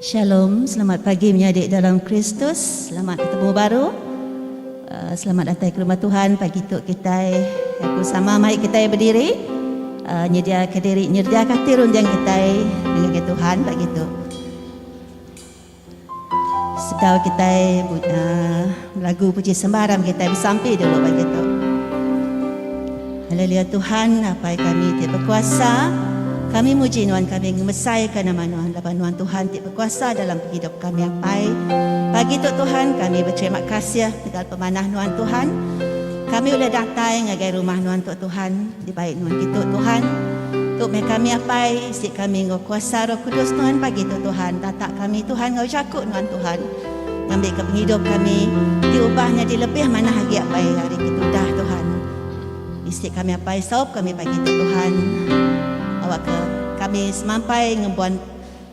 Shalom, selamat pagi menyadi dalam Kristus. Selamat ketemu baru. Uh, selamat datang ke rumah Tuhan pagi tu kita aku sama mai kita berdiri uh, nyedia ke diri nyedia ke hati runjang kita dengan Tuhan pagi tu. Sekau kitai but lagu puji sembah ram kitai besampi dulu pagi tu. Haleluya Tuhan Apai kami ti bekuasa. Kami muji nuan kami ngemesaika nama nuan laban nuan Tuhan ti bekuasa dalam pengidup kami Apai. Pagi tu Tuhan kami beterima kasih tegal pemanah nuan Tuhan. Kami ulih datai ngagai rumah nuan tu Tuhan. Dibai nuan ditu Tuhan. Tu meh kami apai isi kami enggau kuasa roh kudus nuan pagi tu Tuhan tatak kami Tuhan enggau jaku nuan Tuhan ngambi ke pengidup kami di ubah nyadi lebih manah agi apai ari ke tudah Tuhan isi kami apai saup kami pagi tu Tuhan awak ke kami semampai ngembuan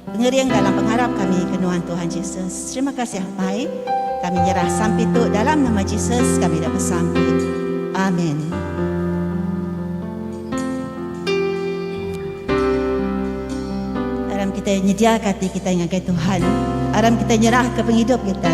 Pengering dalam pengarap kami ke nuan Tuhan Jesus. Terima kasih Apai. Kami nyerah sampi tu dalam nama Jesus kami dah besampi. Amin. Aram kita nyedia kati kita ngagai Tuhan. Aram kita nyerah ke penghidup kita.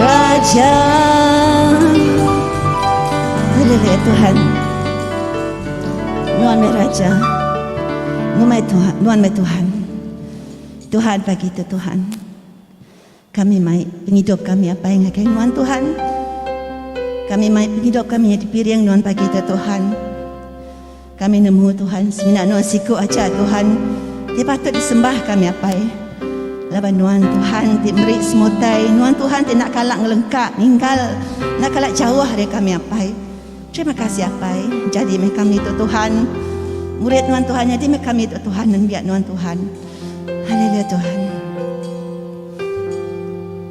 Raja Haleluya Tuhan Nuan mai Raja Numai Tuhan Nuan mai Tuhan Tuhan pagi tu Tuhan Kami mai pengidup kami apa yang ngagai Nuan Tuhan Kami mai pengidup kami dipiring Nuan pagi tu Tuhan Kami nemu Tuhan semina nuan siku aja Tuhan ti patut disembah kami apai laban nuan Tuhan ti meri semua utai nuan Tuhan ti enda kala ngelengka ninggal enda kala jauh ari kami apai terima kasih apai jadi meh kami tu Tuhan murid nuan Tuhan jadi meh kami tu Tuhan nembiak nuan Tuhan haleluya Tuhan.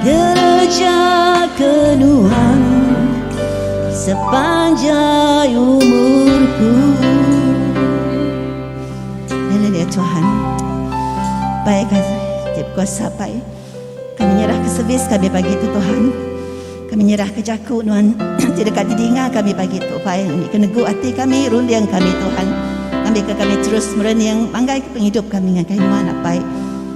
Gereja ke nuan sepanjai umurku Haleluya Tuhan Baik Tiap kuasa Pai Kami nyerah ke servis kami pagi tu Tuhan Kami nyerah ke jaku nuan Ti dekat ti dinga kami pagi tu Pai Ambil ke negu hati kami Runding kami Tuhan Ambil ke kami terus merening Manggai ke penghidup kami Ngagai nuan Pai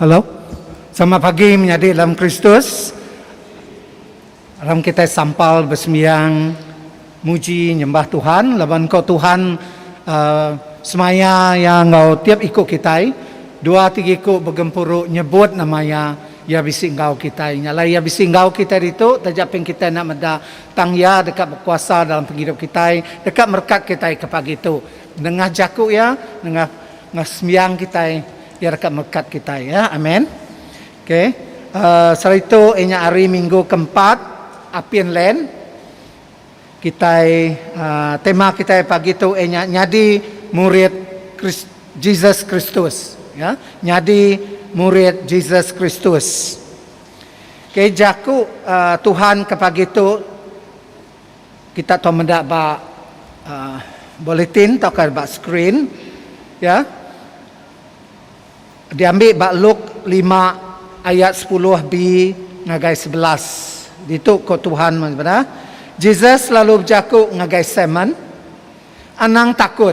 Hello. Selamat pagi menyadi dalam Kristus. Aram kitai sampal besembiang muji nyembah Tuhan laban ko Tuhan uhh semaya iya enggau tiap iku kitai. Dua tiga iku begempuru nyebut nama iya. Iya bisi enggau kitai. Nya alai iya bisi enggau kitai ditu taja pin kitai enda meda tang iya deka bekuasa dalam pengidup kitai deka merekat kitai ke pagi tu. Nengah jaku iya, nengah nengah sembiang kitai, iya deka melekat kitai. Ya, amen. Okay. Uh, saritu inya hari minggu keempat, Apin Len. Kitai, uh, tema kitai pagi tu inya nyadi murid Chris, Jesus Kristus. Ya, nyadi murid Jesus Kristus. Okay, jaku uh, Tuhan ke pagi tu, Kita tau meda ba bulletin tauka ba skrin iya diambi ba Luk lima ayat sepuluh B ngagai sebelas. Ditu ko Tuhan meh sempena Jesus lalu bejaku ngagai Simon, Anang takut.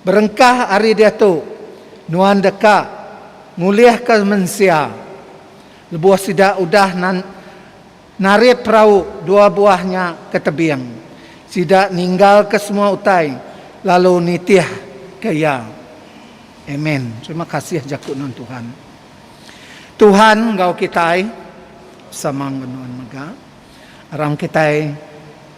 Berengkah ari diatu nuan deka ngulihka mensia lebuh sida udah Narit perau dua buah nya ke tebing. Sida ninggalka semua utai lalu nitihka iya. Amen. Terima kasih jaku nuan Tuhan. Tuhan enggau kitai. Sama enggau nuan mega. Orang kitai.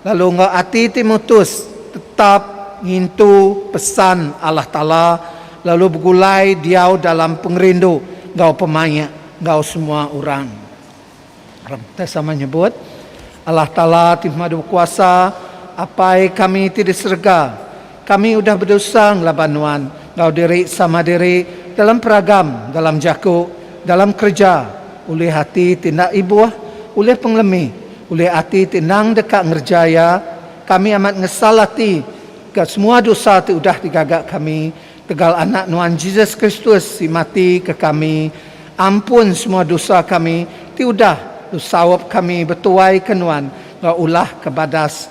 Lalu enggau ati ti mutus tetap ngintu pesan Allah Taala lalu begulai diau dalam pengerindu enggau pemaik enggau semua orang. Orang Kitai sama nyebut, Allah Taala ti Pemadu Bekuasa, Apai kami ti di serega, Kami udah bedosa ngelaban nuan enggau diri sama diri dalam peragam, dalam jaku, dalam kereja, ulih ati ti enda ibuh, ulih pengelemi, ulih ati ti endang deka ngereja iya. Kami amat ngesal ati ga semua dosa ti udah digaga kami. Tegal Anak nuan Jesus Kristus ti mati ke kami, ampun semua dosa kami ti udah lu saup kami betuai ke nuan enggau ulah ke badas.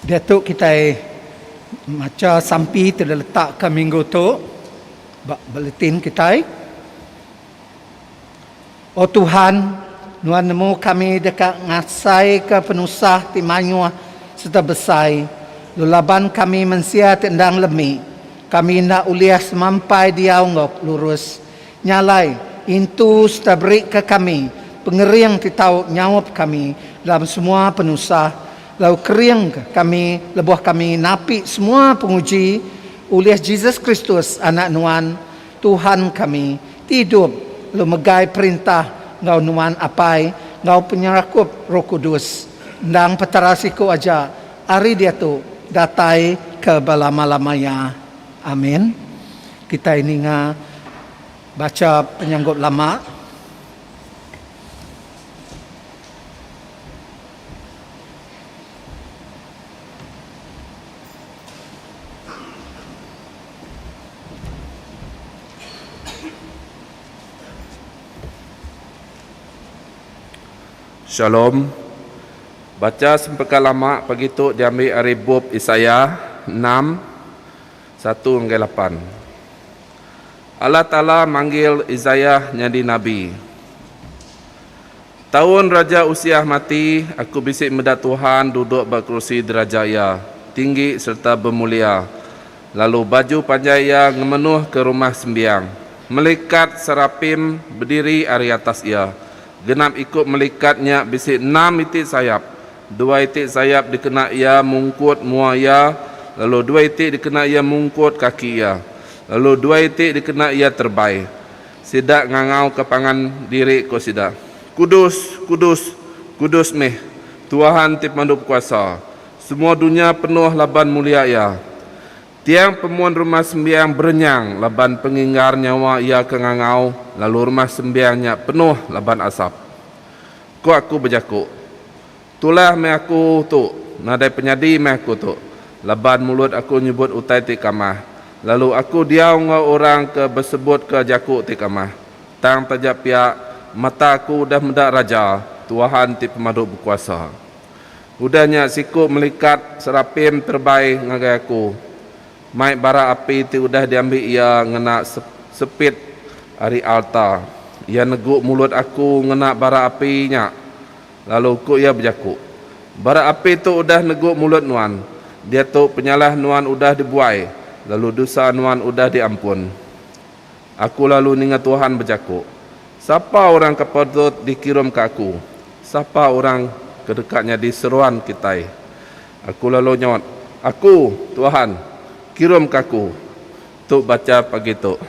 Diatu kitai macha sampi ti diletakka minggu tu ba bulletin kitai. O Tuhan, nuan nemu kami deka ngasaika penusah ti mayuh sereta besai, lalu laban kami mensia ti enda ngelemi, kami enda ulih semampai diau enggau lurus. Nya alai, intu sereta berika kami pengering ti tau nyaup kami dalam semua penusah, Lalu keringka kami lebuh kami napi semua penguji ulih Jesus Kristus, Anak Nuan, Tuhan kami, ti idup, lalu megai perintah enggau Nuan Apai enggau penyerakup Roh Kudus, endang Petara siku aja, ari diatu datai ke belama-lama iya. Amin. Kitai ninga bacha penyanggup lama. Shalom. Bacha sempeka lama pagi tu diambi ari bup Isaya enam, satu enggai lapan. Allah Taala manggil Isaya nyadi nabi. Taun Raja Usiah mati, aku bisi meda Tuhan duduk ba kerusi diraja iya, tinggi sereta bemulia, lalu baju panjai iya ngemenuhka Rumah Sembiang. Melikat serapim bediri ari atas iya. Genap iku melikat nya bisi enam iti sayap, dua iti sayap dikena iya mungkut mua iya, lalu dua iti dikena iya mungkut kaki iya, lalu dua iti dikena iya terbai. Sida ngangauka pangan diri, ku sida, Kudus, kudus, kudus meh Tuhan ti Pemandu Bekuasa, semua dunya penuh laban mulia Iya. Tiang pemun Rumah Sembiang berenyang laban penginggar nyawa iya ke ngangau, lalu Rumah Sembiang nya penuh laban asap. Ku aku bejaku, Tulah meh aku tu nadai penyadi meh aku tu laban mulut aku nyebut utai ti kamah lalu aku diau enggau orang ke besebutka jaku ti kamah. Tang taja pia mata aku udah meda Raja, Tuhan ti Pemadu Bekuasa. Udah nya siku melikat serapim terebai ngagai aku mai bara api ti udah diambi iya ngena sepit ari alta. Iya negu mulut aku ngena bara api nya Lalu ku iya bejaku, Bara api tu udah negu mulut nuan, diatu penyalah nuan udah dibuai, lalu dusa nuan udah diampun. Aku lalu ninga Tuhan bejaku, Sapa orang ke patut dikirum ke aku? Sapa orang ke deka nyadi seruan kitai? Aku lalu nyaut, Aku, Tuhan, kirum ke aku. Tu bacha pagi tu.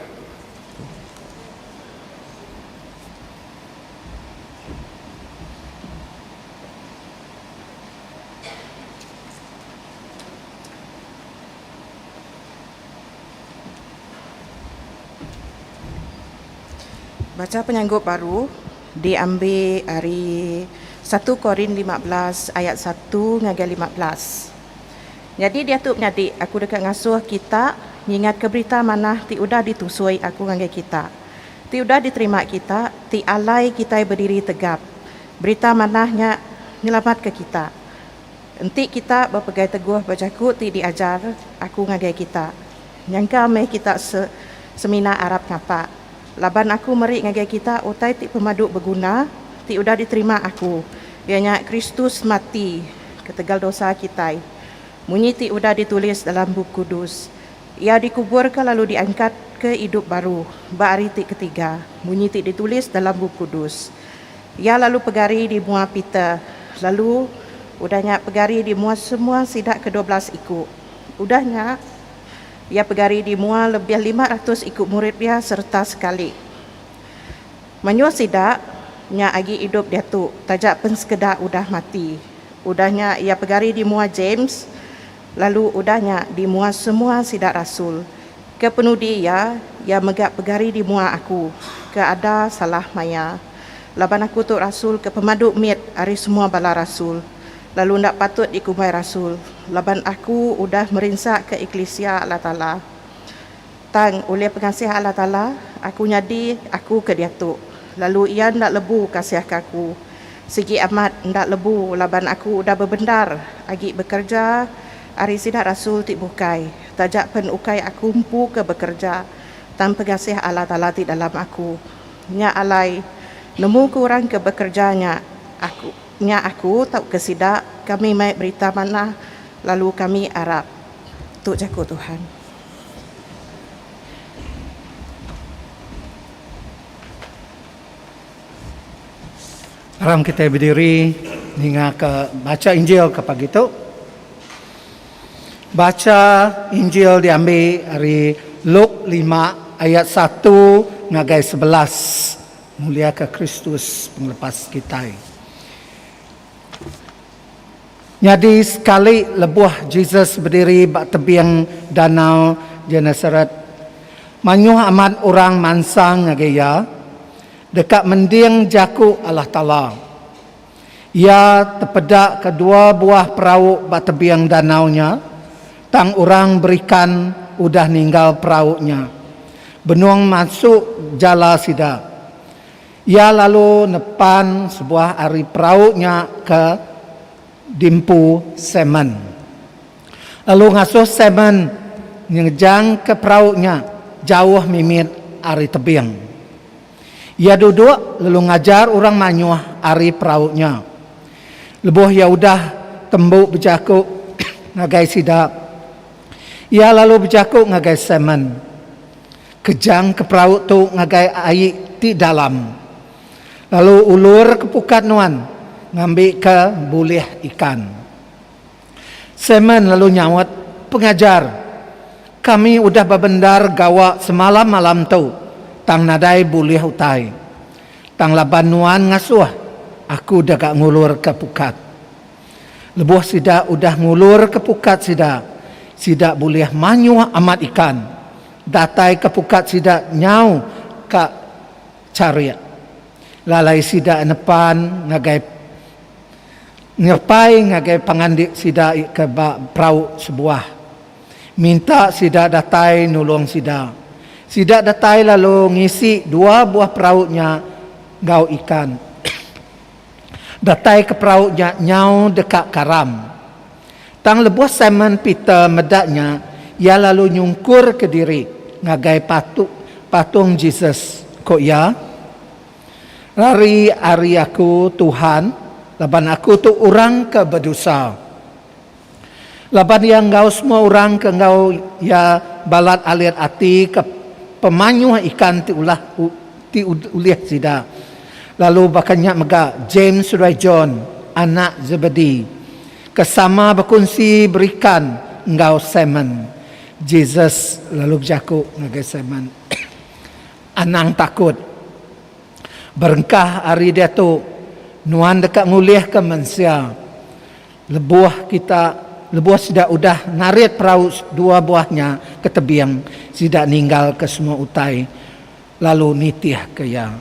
Bacha penyanggup baru diambi ari satu Korin lima belas ayat satu ngagai lima belas. Nyadi diatu menyadi aku deka ngasuh kita ngingatka berita manah ti udah ditusui aku ngagai kita. Ti udah diterima kita, ti alai kitai bediri tegap. Berita manah nya nyelamatka kita. Enti kita bepegai teguh ba jaku ti diajar aku ngagai kita, nyangka meh kita se semina arap ngapa. Laban aku meri ngagai kita utai ti pemadu beguna ti udah diterima aku, iya nya Kristus mati ketegal dosa kitai, munyi ti udah ditulis dalam Bup Kudus, Iya dikuburka lalu diangkatka idup baru ba hari ti ketiga, munyi ti ditulis dalam Bup Kudus. Iya lalu pegari di mua Peter, lalu udah nya pegari di mua semua sida kedua belas iku. Udah nya, iya pegari di mua lebih lima ratus iku murid iya sereta sekali. Mayuh sida nya agi idup diatu, taja pen sekeda udah mati. Udah nya iya pegari di mua James, Lalu udah nya di mua semua sida rasul, ke penudi iya, iya mega pegari di mua aku, ke ada salah maya. Laban aku tu rasul ke pemadu mit ari semua bala rasul, lalu enda patut dikumbai rasul, laban aku udah merinsaka eklisia Allah Taala. Tang, ulih pengasih Allah Taala, aku nyadi aku ke diatu, lalu Iya enda lebu kasihka aku. Sigi amat, enda lebu laban aku udah bebendar agi bekereja ari sida rasul ti bukai, taja pen ukai aku empu ke bekereja, tang pengasih Allah Taala ti dalam aku. Nya alai, nemu ke orang ke bekereja nya, aku, nya aku tauka sida, kami mai berita manah, lalu kami arap. Tu jaku Tuhan. Aram kitai bediri ninga ke bacha Injil ke pagi tu. Bacha Injil diambi ari Luk lima ayat satu ngagai sebelas muliaka Kristus pengelepas kitai. Nyadi sekali lebuh Jesus bediri ba tebing Danau Genesaret, mayuh amat orang mansang ngagai iya deka mending jaku Allah Taala. Iya tepedaka dua buah perau ba tebing danau nya, tang orang berikan udah ninggal perau nya, benung mansuk jala sida. Iya lalu nepan sebuah ari perau nya ke dimpu Simon, lalu ngasuh Simon ngejangka perau nya jauh mimit ari tebing. Iya duduk lalu ngajar orang mayuh ari perau nya. Lebuh iya udah tembu bejaku ngagai sida, iya lalu bejaku ngagai Simon, Kejang ke perau tu ngagai ai ti dalam. Lalu ulur ke pukat nuan ngambi ke bulih ikan. Simon lalu nyaut, Pengajar, kami udah bebendar gawa semalam malam tu tang nadai bulih utai. Tang laban nuan ngasuh, aku dega ngulur ke pukat. Lebuh sida udah ngulurka pukat sida, sida bulih manyuh amat ikan dataika pukat sida nyau ka charik. Lalai sida nepan ngagai nyerepai ngagai pangandik sida ke ba perau sebuah, minta sida datai nulung sida. Sida datai lalu ngisi dua buah perau nya enggau ikan. Datai ke perau nya nyau deka karam. Tang lebuh Simon Peter meda nya, iya lalu nyungkurka diri ngagai patu patung Jesus, ku iya, Lari ari aku, Tuhan, laban aku tu orang ke bedusa! Laban iya enggau semua orang ke enggau iya balat alit ati ke pemanyuh ikan ti ulah ti ulih sida. Lalu baka nya mega James seduai John, anak Zebedee, ke sama bekunsi berikan enggau Simon. Jesus lalu bejaku ngagai Simon, Anang takut. Berengkah ari diatu, nuan deka ngulihka mensia. Lebuh kita lebuh sida udah narit perau dua buah nya ke tebing, sida ninggalka semua utai lalu nitihka iya.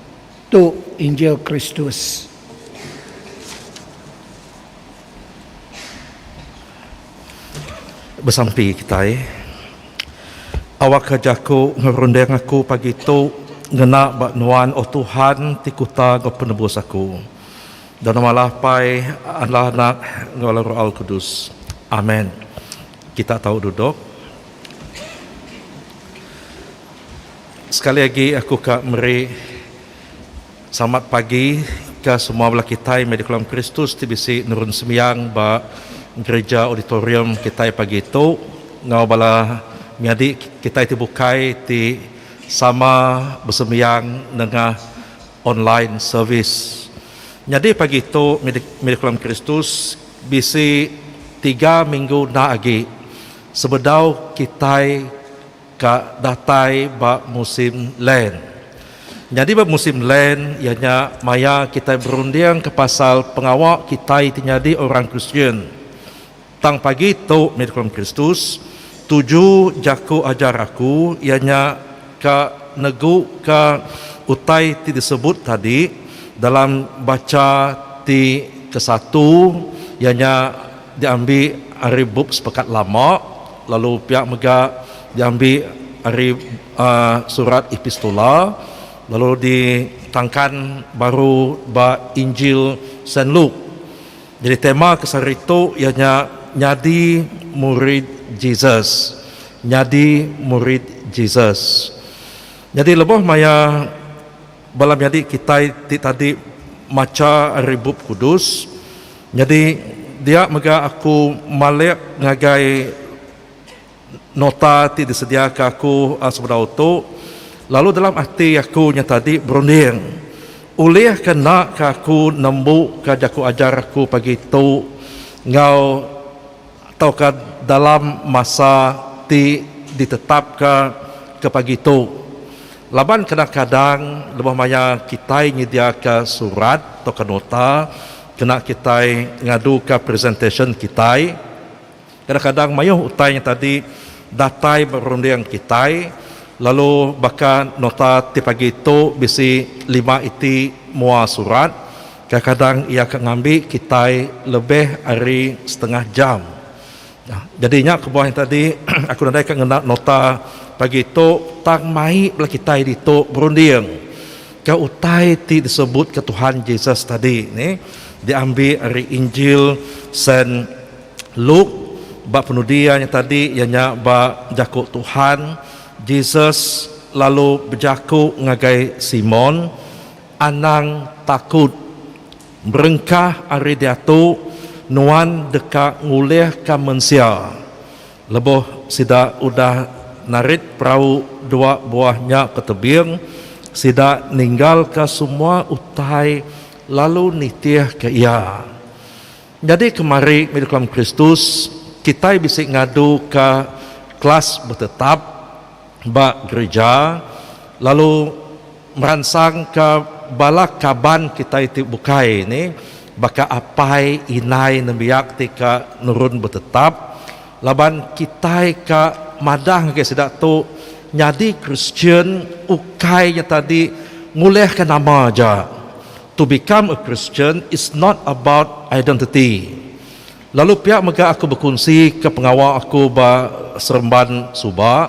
Tu Injil Kristus. Besampi kitai, awakka jaku ngerunding aku pagi tu ngena ba Nuan, O Tuhan, ti Kuta enggau Penebus aku. Dan nama Allah Pai, Allah Anak, enggau Allah Roh Kudus. Amen. Kita tau duduk. Sekali agi aku ka meri selamat pagi ke semua bala kitai meh di kolam Kristus ti bisi nurun sembiang ba gerija auditorium kitai pagi tu enggau bala menyadi kitai ti bukai ti sama besembiang nengah Online Service. Nyadi pagi tu Mira Keluarga Kristus bisi tiga minggu enda agi sebedau kitai ka datai ba musim Lent. Nyadi ba musim Lent iya nya maya kitai berundingka pasal pengawa kitai ti nyadi orang Kristian. Tang pagi tu mih dikelem Kristus, tuju jaku ajar aku iya nya ka neguka utai ti disebut tadi dalam bacha ti kesatu iya nya diambi ari bup Sepekat Lama lalu pia mega diambi ari surat Epistula lalu ditangkan baru ba Injil Saint Luke. Jadi tema ke sehari tu iya nya Nyadi Murid Jesus. Nyadi Murid Jesus. Jadi lebuh maya bala menyadi kitai ti tadi macha ari Bup Kudus, nyadi dia mega aku malik ngagai. Nota ti disediaka aku sebedau tu lalu dalam ati aku nya tadi berunding ulih ke enda ke aku nembu ka jaku ajar aku pagi tu enggau tauka dalam masa ti ditetapka ke pagi tu laban kadang kadang lebuh maya kitai nyediaka surat tauka nota kena kitai ngaduka presentation kitai. Kadang-kadang mayuh utai nya tadi datai ba runding kitai lalu baka nota ti pagi tu bisi lima iti mua surat, kadang-kadang iya ka ngambi kitai lebih ari setengah jam. Jadi nya kebuah nya tadi aku nadai ka ngena nota pagi tu tang mai bala kitai ditu berunding ka utai ti disebutka Tuhan Jesus tadi nih diambi ari Injil Saint. Luke, ba penudi iya nya tadi iya nya ba jaku Tuhan, Jesus lalu bejaku ngagai Simon, Anang takut. Berengkah ari diatu, nuan deka ngulihka mensia. Lebuh sida udah narit perau dua buah nya ke tebing, sida ninggalka semua utai lalu nitihka iya. Nyadi kemari mih kelam Kristus, kitai bisi ngaduka kelas betetap ba gerija lalu meransangka bala kaban kitai ti bukai nih baka apai indai nembiak ti ka nurun betetap laban kitai ka madah ngagai sida tu nyadi Kristian ukai nyatadi ngulihka nama aja. To become a Christian is not about identity. Lalu pia mega aku bekunsi ke pengawa aku ba seremban suba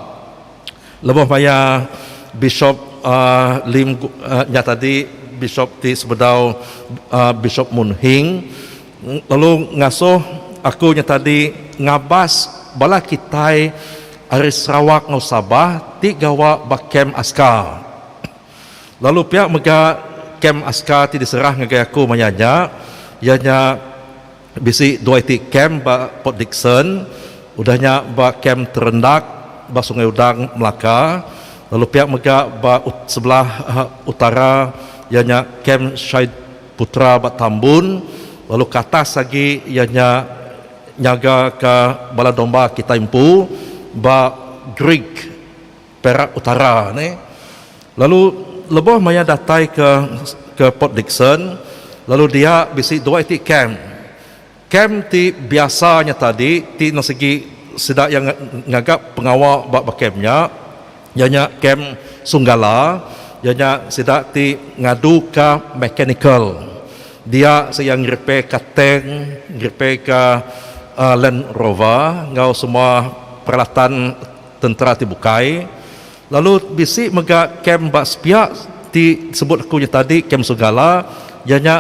lebuh maya Bishop Lim nya tadi Bishop ti sebedau Bishop Mun Hing lalu ngasuh aku nya tadi ngabas bala kitai ari Sarawak enggau Sabah ti gawa ba kem askar. Lalu pia mega kem askar ti diserah ngagai aku maya nya iya nya bisi dua iti kem ba Port Dickson udah nya ba kem Terendak ba Sungai Udang Melaka lalu pia mega ba sebelah utara iya nya kem Shahid Putra ba Tambun lalu ke atas agi iya nya nyaga ka bala domba kitai empu ba Greek. Perak Utara ni lalu leboh maya datai ke ke Port Dickson lalu dia bisi dua iti camp. Camp ti biasa nya tadi ti enda sigi sida iya ngaga pengawa ba ba camp nya iya nya camp Sunggala iya nya sida ti ngadu ka mechanical dia se iya ngerepair ka tank ngerepair ka Land Rover enggau semua peralatan tentera ti bukai lalu bisi mega kem ba sepiak ti sebut aku nya tadi kem Sugala iya nya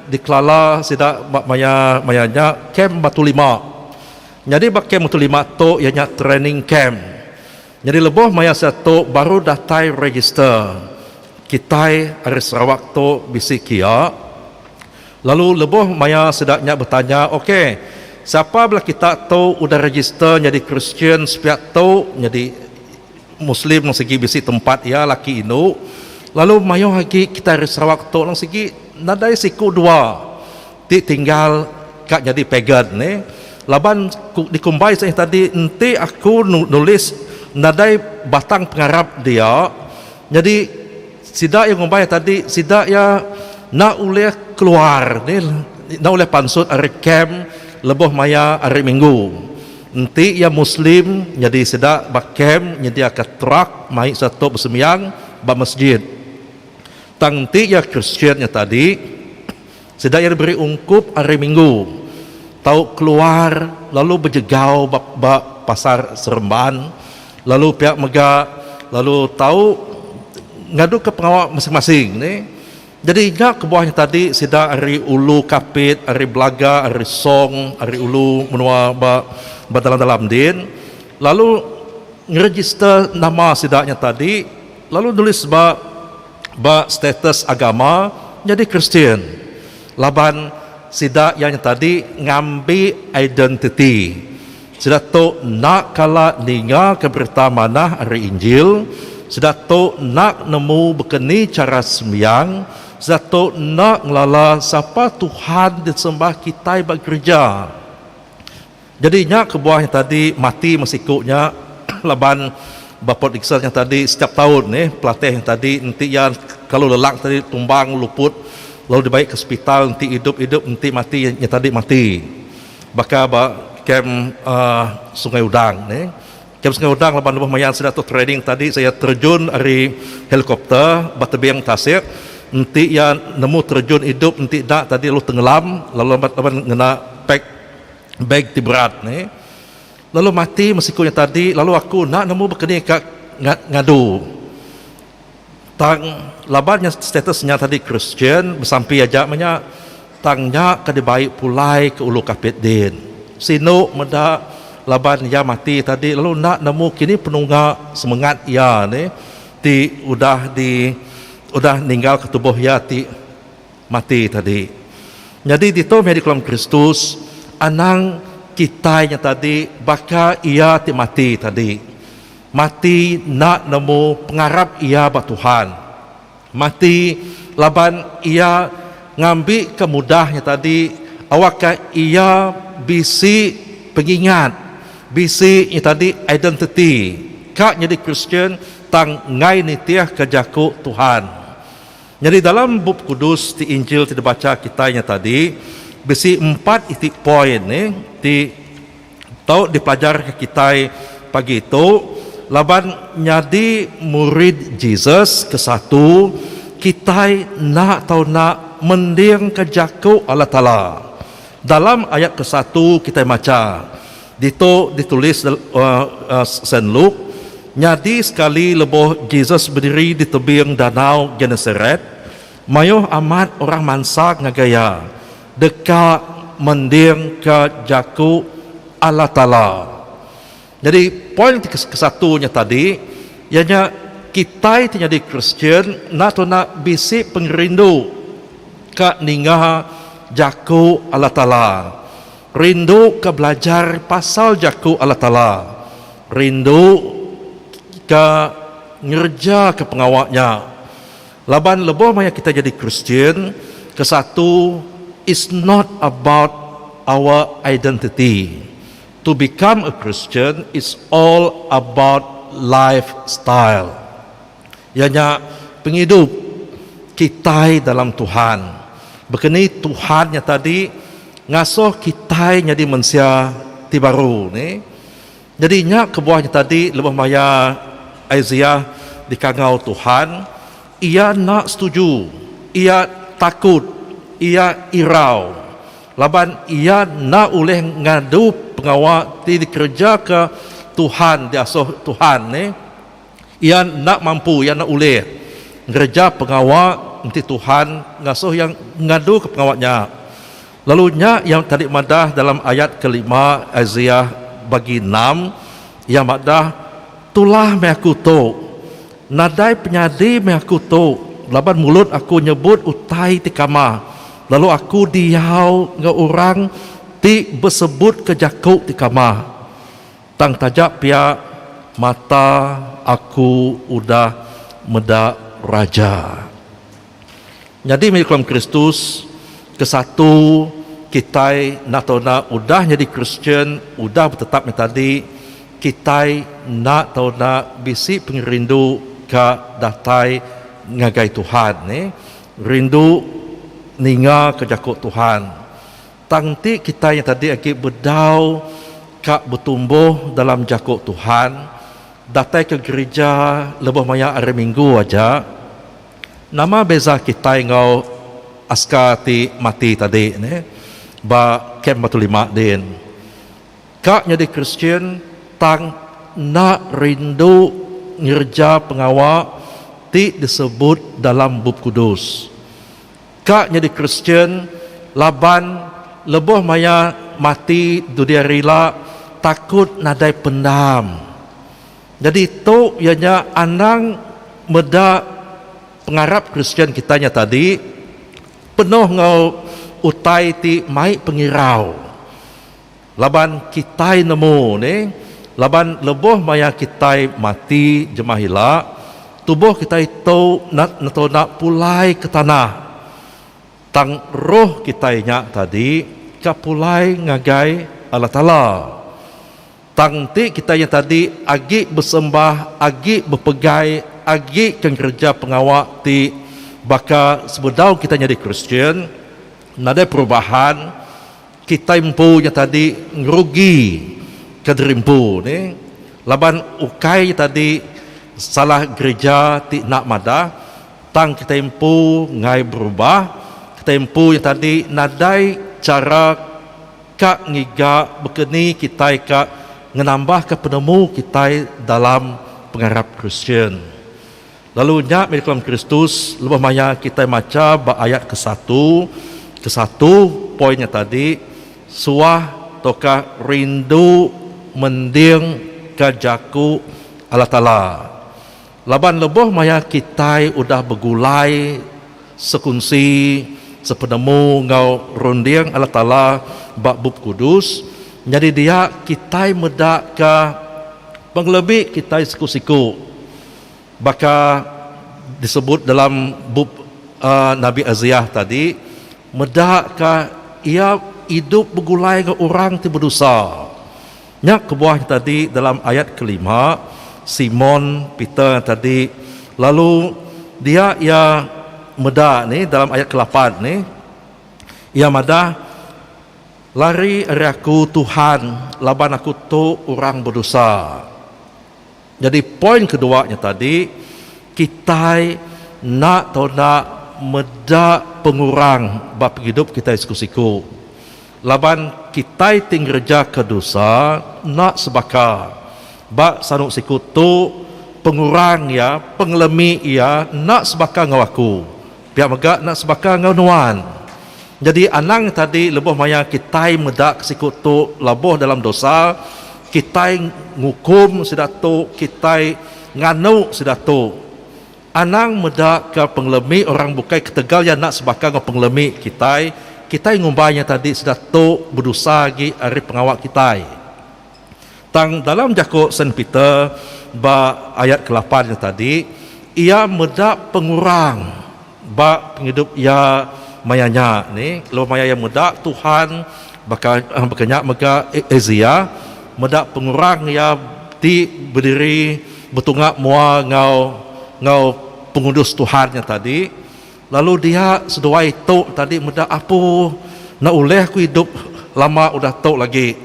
dikelala sida ba maya maya nya kem Batu Lima nyadi ba kem Batu Lima tu iya nya training kem nyadi lebuh maya sida tu baru datai register kitai ari Sarawak tu bisi kia. Lalu lebuh maya sida nya betanya, Ok, sapa bala kita tu udah register nyadi Kristian sepiak tu nyadi Muslim lalu sigi bisi tempat iya laki indu, lalu mayuh agi kita ari Sarawak tu lalu sigi nadai siku dua ti tinggal ka nyadi pagan neh. Laban ku dikumbai seh tadi enti aku nulis nadai batang pengarap dia nyadi Sida iya ngumbai tadi sida iya enda ulih keluar ni enda ulih pansut ari kem lebuh maya hari minggu enti iya muslim nyadi sida ba kem nyediaka truck mai sida tu besembiang ba masjid tang enti iya kristian nya tadi Sida iya diberi ungkup hari Minggu tau keluar lalu bejegau ba ba Pasar Seremban lalu pia mega lalu tau ngaduka pengawa masing-masing nih. Jadi nya kebuah nya tadi sida ari Ulu Kapit, ari Belaga, ari Song, ari Ulu menua ba ba dalam-dalam din lalu ngeregister nama sida nya tadi lalu nulis ba ba status agama nyadi Kristian laban sida iya nyetadi ngambi identiti sida tu enda kala ningaka berita manah ari Injil, sida tu enda nemu baka ni chara sembiang, sida tu enda ngelala sapa Tuhan disembah kitai ba gerija. Jadi nya kebuah nya tadi mati meh siku nya laban ba Port Dickson nya tadi setiap taun neh pelatih nya tadi enti iya kelalu lelak tadi tumbang luput lalu dibai ke sepital enti idup idup enti mati nya tadi mati baka ba kem Sungai Udang neh. Kem Sungai Udang laban lebuh maya sida tu training tadi saya terjun ari helikopter ba tebing tasik enti iya nemu terjun idup enti enda tadi lalu tengelam lalu laban ngena pack. beg ti berat ni lalu mati meh siku nya tadi lalu aku enda nemu bekeni ka ngadu tang laban nya status nya tadi kristian besampi aja meh nya tang nya ka dibai pulai ke ulu kapit din sinu meda laban iya mati tadi lalu enda nemu kini penungga semengat iya ni ti udah di udah ninggal ke tubuh iya ti Mati tadi. Nyadi ditu meh dikelan Kristus, anang kitai nya tadi baka Iya ti mati tadi. Mati enda nemu pengarap iya ba Tuhan. Mati laban iya ngambika mudah nya tadi awakka iya bisi pengingat, bisi nya tadi identiti ka nyadi Kristian tang enggai nitihka jaku Tuhan. Nyadi dalam Bup Kudus ti Injil ti dibacha kitai nya tadi bisi empat iti poin ne ti tau dipelajarka kitai pagi tu laban nyadi murid Jesus ke satu kitai enda tau enda mendingka jaku Allah Taala. Dalam ayat ke satu kitai macha Ditu ditulis Saint Luke, Nyadi sekali lebuh Jesus bediri di tebing Danau Genesaret, mayuh amat orang mansa ngagai iya deka mendingka jaku Allah Taala. Nyadi poin ti ke satu nya tadi iya nya kitai ti nyadi Kristian enda tuna bisi pengerindu ka ninga jaku Allah Taala. Rindu ka belajar pasal Jaku Allah Taala. Rindu ka ngereja ka pengawa nya. Laban leboh maya kitai jadi Kristian, ke satu it's not about our identity. To become a Christian it's all about life style. Iya nya pengidup kitai dalam Tuhan. Baka ni Tuhan nya tadi ngasuh kitai nyadi mensia ti baru ni. Nyadi nya kebuah nya tadi lebuh maya Isaiah dikangau Tuhan, iya enda setuju, iya takut, iya irau laban iya enda ulih ngadu pengawa ti dikerejaka Tuhan, diasuh Tuhan ni. Iya enda mampu, iya enda ulih ngereja pengawa enti Tuhan ngasuh iya ngaduka pengawa nya. Lalu nya iya tadi madah dalam ayat ke lima Isaiah bagi enam, iya madah, Tulah meh aku tu, nadai penyadi meh aku tu, laban mulut aku nyebut utai ti kamah, lalu aku diau enggau orang ti besebutka jaku ti kamah. Tang taja pia mata aku udah meda Raja. Nyadi meh Iklam Kristus ke satu kitai enda tau enda udah nyadi Kristian udah betetap meh tadi kitai enda tau enda bisi pengerindu ka datai ngagai Tuhan neh rindu ninga ka jako Tuhan Tang enti kitai nya tadi agi bedau ka betumbuh dalam jaku Tuhan, datai ke gerija lebuh maya Hari Minggu aja, nama beza kitai enggau aska ti mati tadi ne ba Kem Batu Limak din? Ka nyadi Kristian tang enda rindu ngereja pengawa ti disebut dalam Bup Kudus. Ka nyadi Kristian laban lebuh maya mati dudi hari ila takut nadai pendam. Nyadi tu iya nya anang meda pengarap Kristian kitai nya tadi penuh enggau utai ti mai pengirau. Laban kitai nemu ni, laban lebuh maya kitai mati jemah ila, tubuh kitai tu netona pulai ke tanah, tang roh kitai nya tadi ka pulai ngagai Allah Taala. Tang enti kitai nya tadi agi besembah, agi bepegai, agi ke ngereja pengawa ti baka sebedau kitai nyadi Kristian, nadai perubahan, Kitai empu nya tadi ngerugi ke diri empu ni laban ukai nya tadi salah gerija ti enda madah tang kitai empu enggai berubah kitai empu nya tadi nadai chara ka ngiga baka ni kitai ka ngenambahka penemu kitai dalam pengarap kristian Lalu nya meh dikelan Kristus lebuh maya kitai macha ba ayat ke satu ke satu poin nya tadi suah tauka rindu mending ka jaku Allah Taala. Laban lebuh maya kitai udah begulai sekunsi sepenemu enggau runding Allah Taala ba Bup Kudus, nyadi dia kitai meda ka pengelebih kitai siku-siku. Baka disebut dalam bup Nabi Isaiah tadi, meda ka Iya idup begulai enggau orang ti bedosa. Nya kebuah nya tadi dalam ayat kelima, Simon Peter tadi lalu dia iya meda nih dalam ayat kelapan nih, iya madah, Lari ari aku, Tuhan, laban aku tu orang bedosa. Nyadi poin kedua nya tadi, kitai enda tau enda meda pengurang ba pengidup kitai siku-siku. Laban kitai ti ngerejaka dosa enda sebaka. Ba sanu siku tu, pengurang iya, pengelemi iya enda sebaka enggau aku. Pia mega enda sebaka enggau nuan. Nyadi anang tadi lebuh maya kitai meda ke siku tu labuh dalam dosa, kitai ngukum sida tu, kitai nganu sida tu. Anang meda ke pengelemi orang bukai ketegal iya enda sebaka enggau pengelemi kitai, kitai ngumbai nya tadi sida tu bedosa agi ari pengawa kitai. Tang dalam jaku Saint Peter ba ayat kelapan nya tadi, iya meda pengurang ba pengidup iya maya nya ni laban maya iya meda Tuhan baka baka nya mega Asia meda pengurang iya ti bediri betunga mua enggau enggau pengudus Tuhan nya tadi. Lalu dia seduai tu tadi meda apu enda ulih aku idup lama udah tu lagi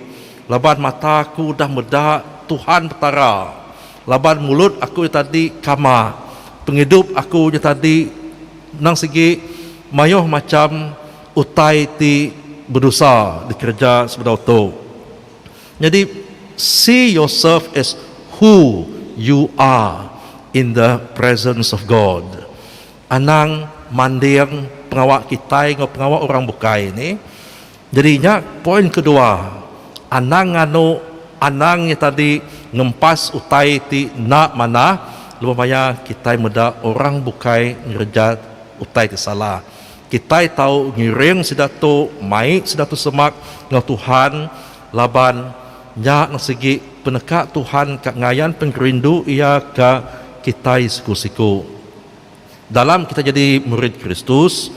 laban mata aku udah meda Tuhan Petara laban mulut aku nya tadi kama pengidup aku nya tadi endang sigi maioh macham utai ti bedosa dikereja sebedau tu nyadi see yourself as who you are in the presence of God. Anang manding pengawa kitai enggau pengawa orang bukai ni. Jadi nya poin kedua, anang nganu anang nya tadi ngempas utai ti enda manah lebuh maya kitai meda orang bukai ngereja utai ti salah. Kitai tau ngiring sida tu, mai sida tu semak enggau Tuhan laban nya ne sigi peneka Tuhan ka ngayan pengerindu Iya ka kitai siku-siku. Dalam kitai nyadi murid Kristus,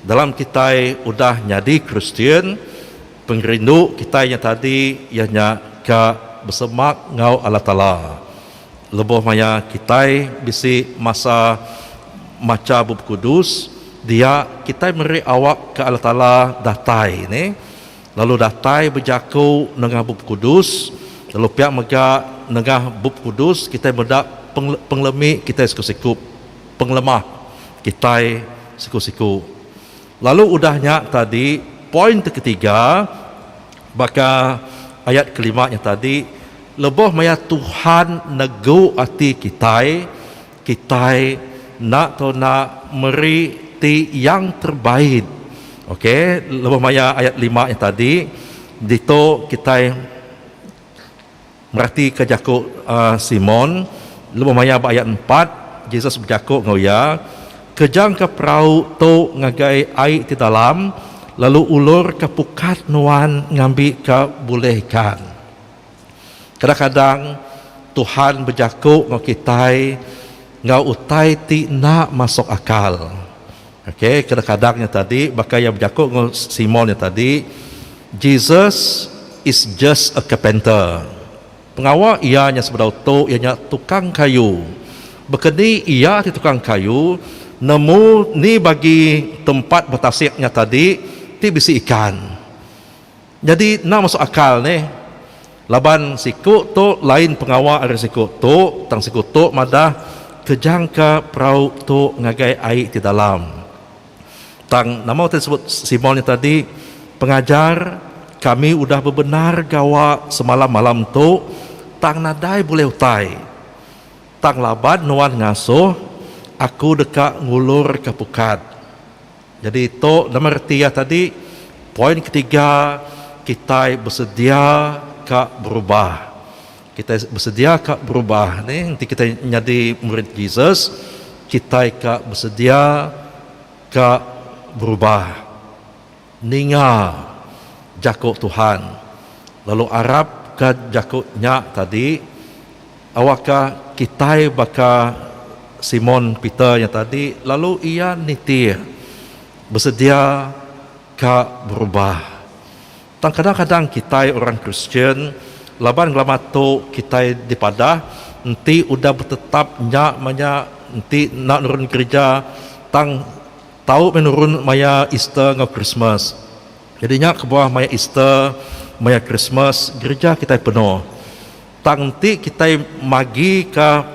dalam kitai udah nyadi Kristian, pengerindu kitai nya tadi iya nya ka besemak enggau Allah Taala. Lebuh maya kitai bisi masa macha Bup Kudus, dia kitai meri awak ke Allah Taala datai nih lalu datai bejaku nengah Bup Kudus, lalu pia mega nengah Bup Kudus kitai meda pengelemi kitai siku-siku, pengelemah kitai siku-siku. Lalu udah nya tadi poin ti ketiga baka ayat kelima nya tadi lebuh maya Tuhan negu ati kitai, Kitai enda tau enda meri ti yang terbaik. Ok, lebuh maya ayat lima nya tadi, ditu kitai meratika jaku Simon. Lebuh maya ba ayat empat, Jesus bejaku enggau iya, Kejangka perau tu ngagai ai ti dalam, lalu ulurka pukat nuan ngambika bulih ikan. Kadang-kadang Tuhan bejaku enggau kitai enggau utai ti enda masuk akal. Okay, kadang-kadang nya tadi baka iya bejaku enggau Simon nya tadi, Jesus is just a carpenter. Pengawa iya nya sebedau tu iya nya tukang kayu. Baka ni iya ti tukang kayu nemu ni bagi tempat betasik nya tadi ti bisi ikan. Nyadi enda masuk akal nih laban siku tu lain pengawa ari siku tu tang siku tu madah kejangka perau tu ngagai ai ti dalam. Tang nama ti disebut Simon nya tadi, Pengajar, kami udah bebendar gawa semalam malam tu tang nadai bulih utai. Tang laban nuan ngasuh, aku deka ngulurka pukat. Nyadi tu nama reti iya tadi, poin ketiga kitai besedia ka berubah. Kitai besedia ka berubah ni enti kitai nyadi murid Jesus, kitai ka besedia ka berubah ninga jaku Tuhan lalu arapka jaku nya tadi Awakka kitai baka Simon Peter nya tadi, lalu iya nitih besedia ka berubah. Tang kadang-kadang kitai orang Kristian laban ngelama tu kitai dipadah enti udah betetap nya maya enti enda nurun gerija tang tau meh nurun maya Easter enggau Krismas. Jadi nya kebuah maya Easter, maya Krismas gerija kitai penuh. Tang enti kitai magika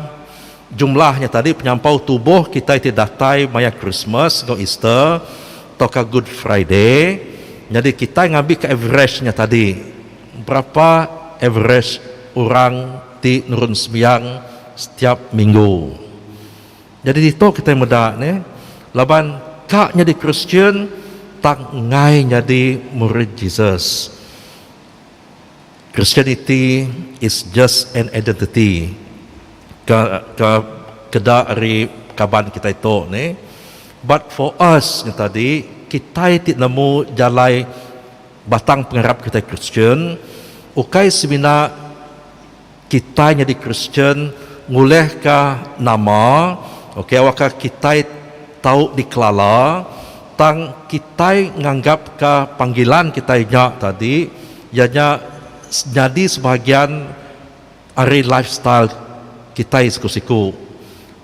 jumlah nya tadi penyampau tubuh kitai ti datai maya Krismas enggau Easter tauka Good Friday, nyadi kitai ngambika average nya tadi, berapa average orang ti nurun sembiang setiap minggu. Nyadi ditu kitai meda nih, laban ka nyadi Kristian tang enggai nyadi murid Jesus. Christianity is just an identity ke ke keda ari kaban kitai tu ni but for us nyetadi kitai ti nemu jalai batang pengarap kitai Kristian ukai semina kitai nyadi Kristian ngulihka nama okay waka kitai tau dikelala tang kitai nganggapka panggilan kitai nya tadi Iya nya nyadi sebahagian ari lifestyle kitai siku-siku.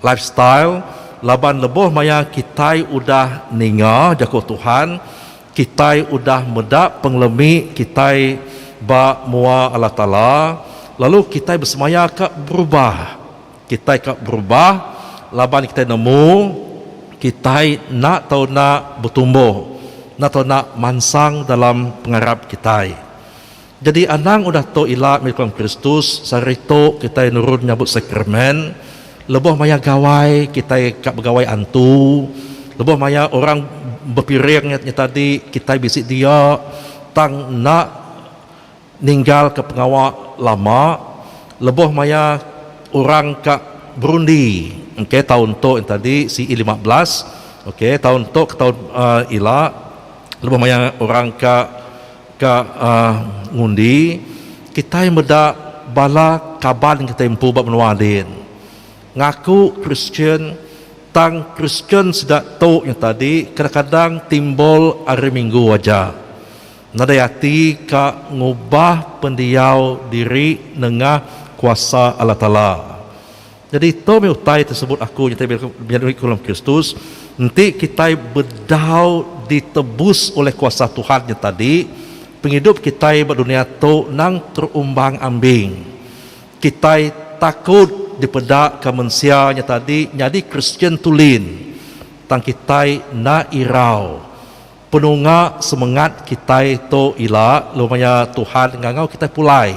Lifestyle laban lebuh maya kitai udah ninga Jaku Tuhan, kitai udah meda pengelemi kitai ba mua Allah Taala, lalu kitai besemaya ka berubah. Kitai ka berubah laban kitai nemu kitai enda tau enda betumbuh, enda tau enda mansang dalam pengarap kitai. Jadi anang udah tu ila meh nyukung Kristus, sehari tu kitai nurun nyabut sakramen, lebuh maya gawai kitai ka begawai antu, lebuh maya orang bepiring nya tadi kitai bisi dia tang enda. Ninggalka pengawa lama lebuh maya orang ka berundi okay taun tu yang tadi CE lima belas okay taun tu ke taun ila lebuh maya orang ka ka ngundi kitai meda bala kaban kitai empu ba menua din ngaku Kristian tang Kristian sida tu yang tadi kadang-kadang timbul ari minggu aja. Nadai ati ka ngubah pendiau diri nengah kuasa Allah Taala. Nyadi tu meh utai ti sebut aku nyadi meri aku dalam Kristus, enti kitai bedau ditebus ulih kuasa Tuhan nya tadi, pengidup kitai ba dunia tu nang terumbang ambing. Kitai takut dipeda ka mensia nya tadi nyadi Kristian tulin, tang kitai enda irau. Penunga semengat kitai tu ila lalu maya Tuhan ngangau kitai pulai.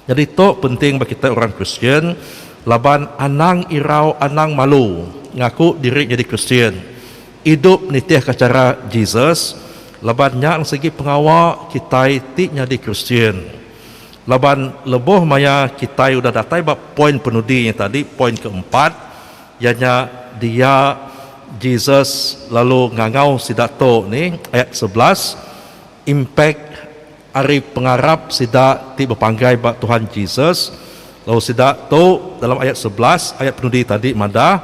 Nyadi tu penting ba kitai orang Kristian laban anang irau anang malu ngaku diri nyadi Kristian, idup nitihka chara Jesus laban nya nang sigi pengawa kitai ti nyadi Kristian. Laban lebuh maya kitai udah datai ba poin penudi nya tadi, poin keempat, Iya nya dia, Jesus lalu ngangau sida tu ni, ayat sebelas, impact ari pengarap sida ti bepanggai ba Tuhan Jesus, lalu sida tu dalam ayat sebelas ayat penudi tadi madah,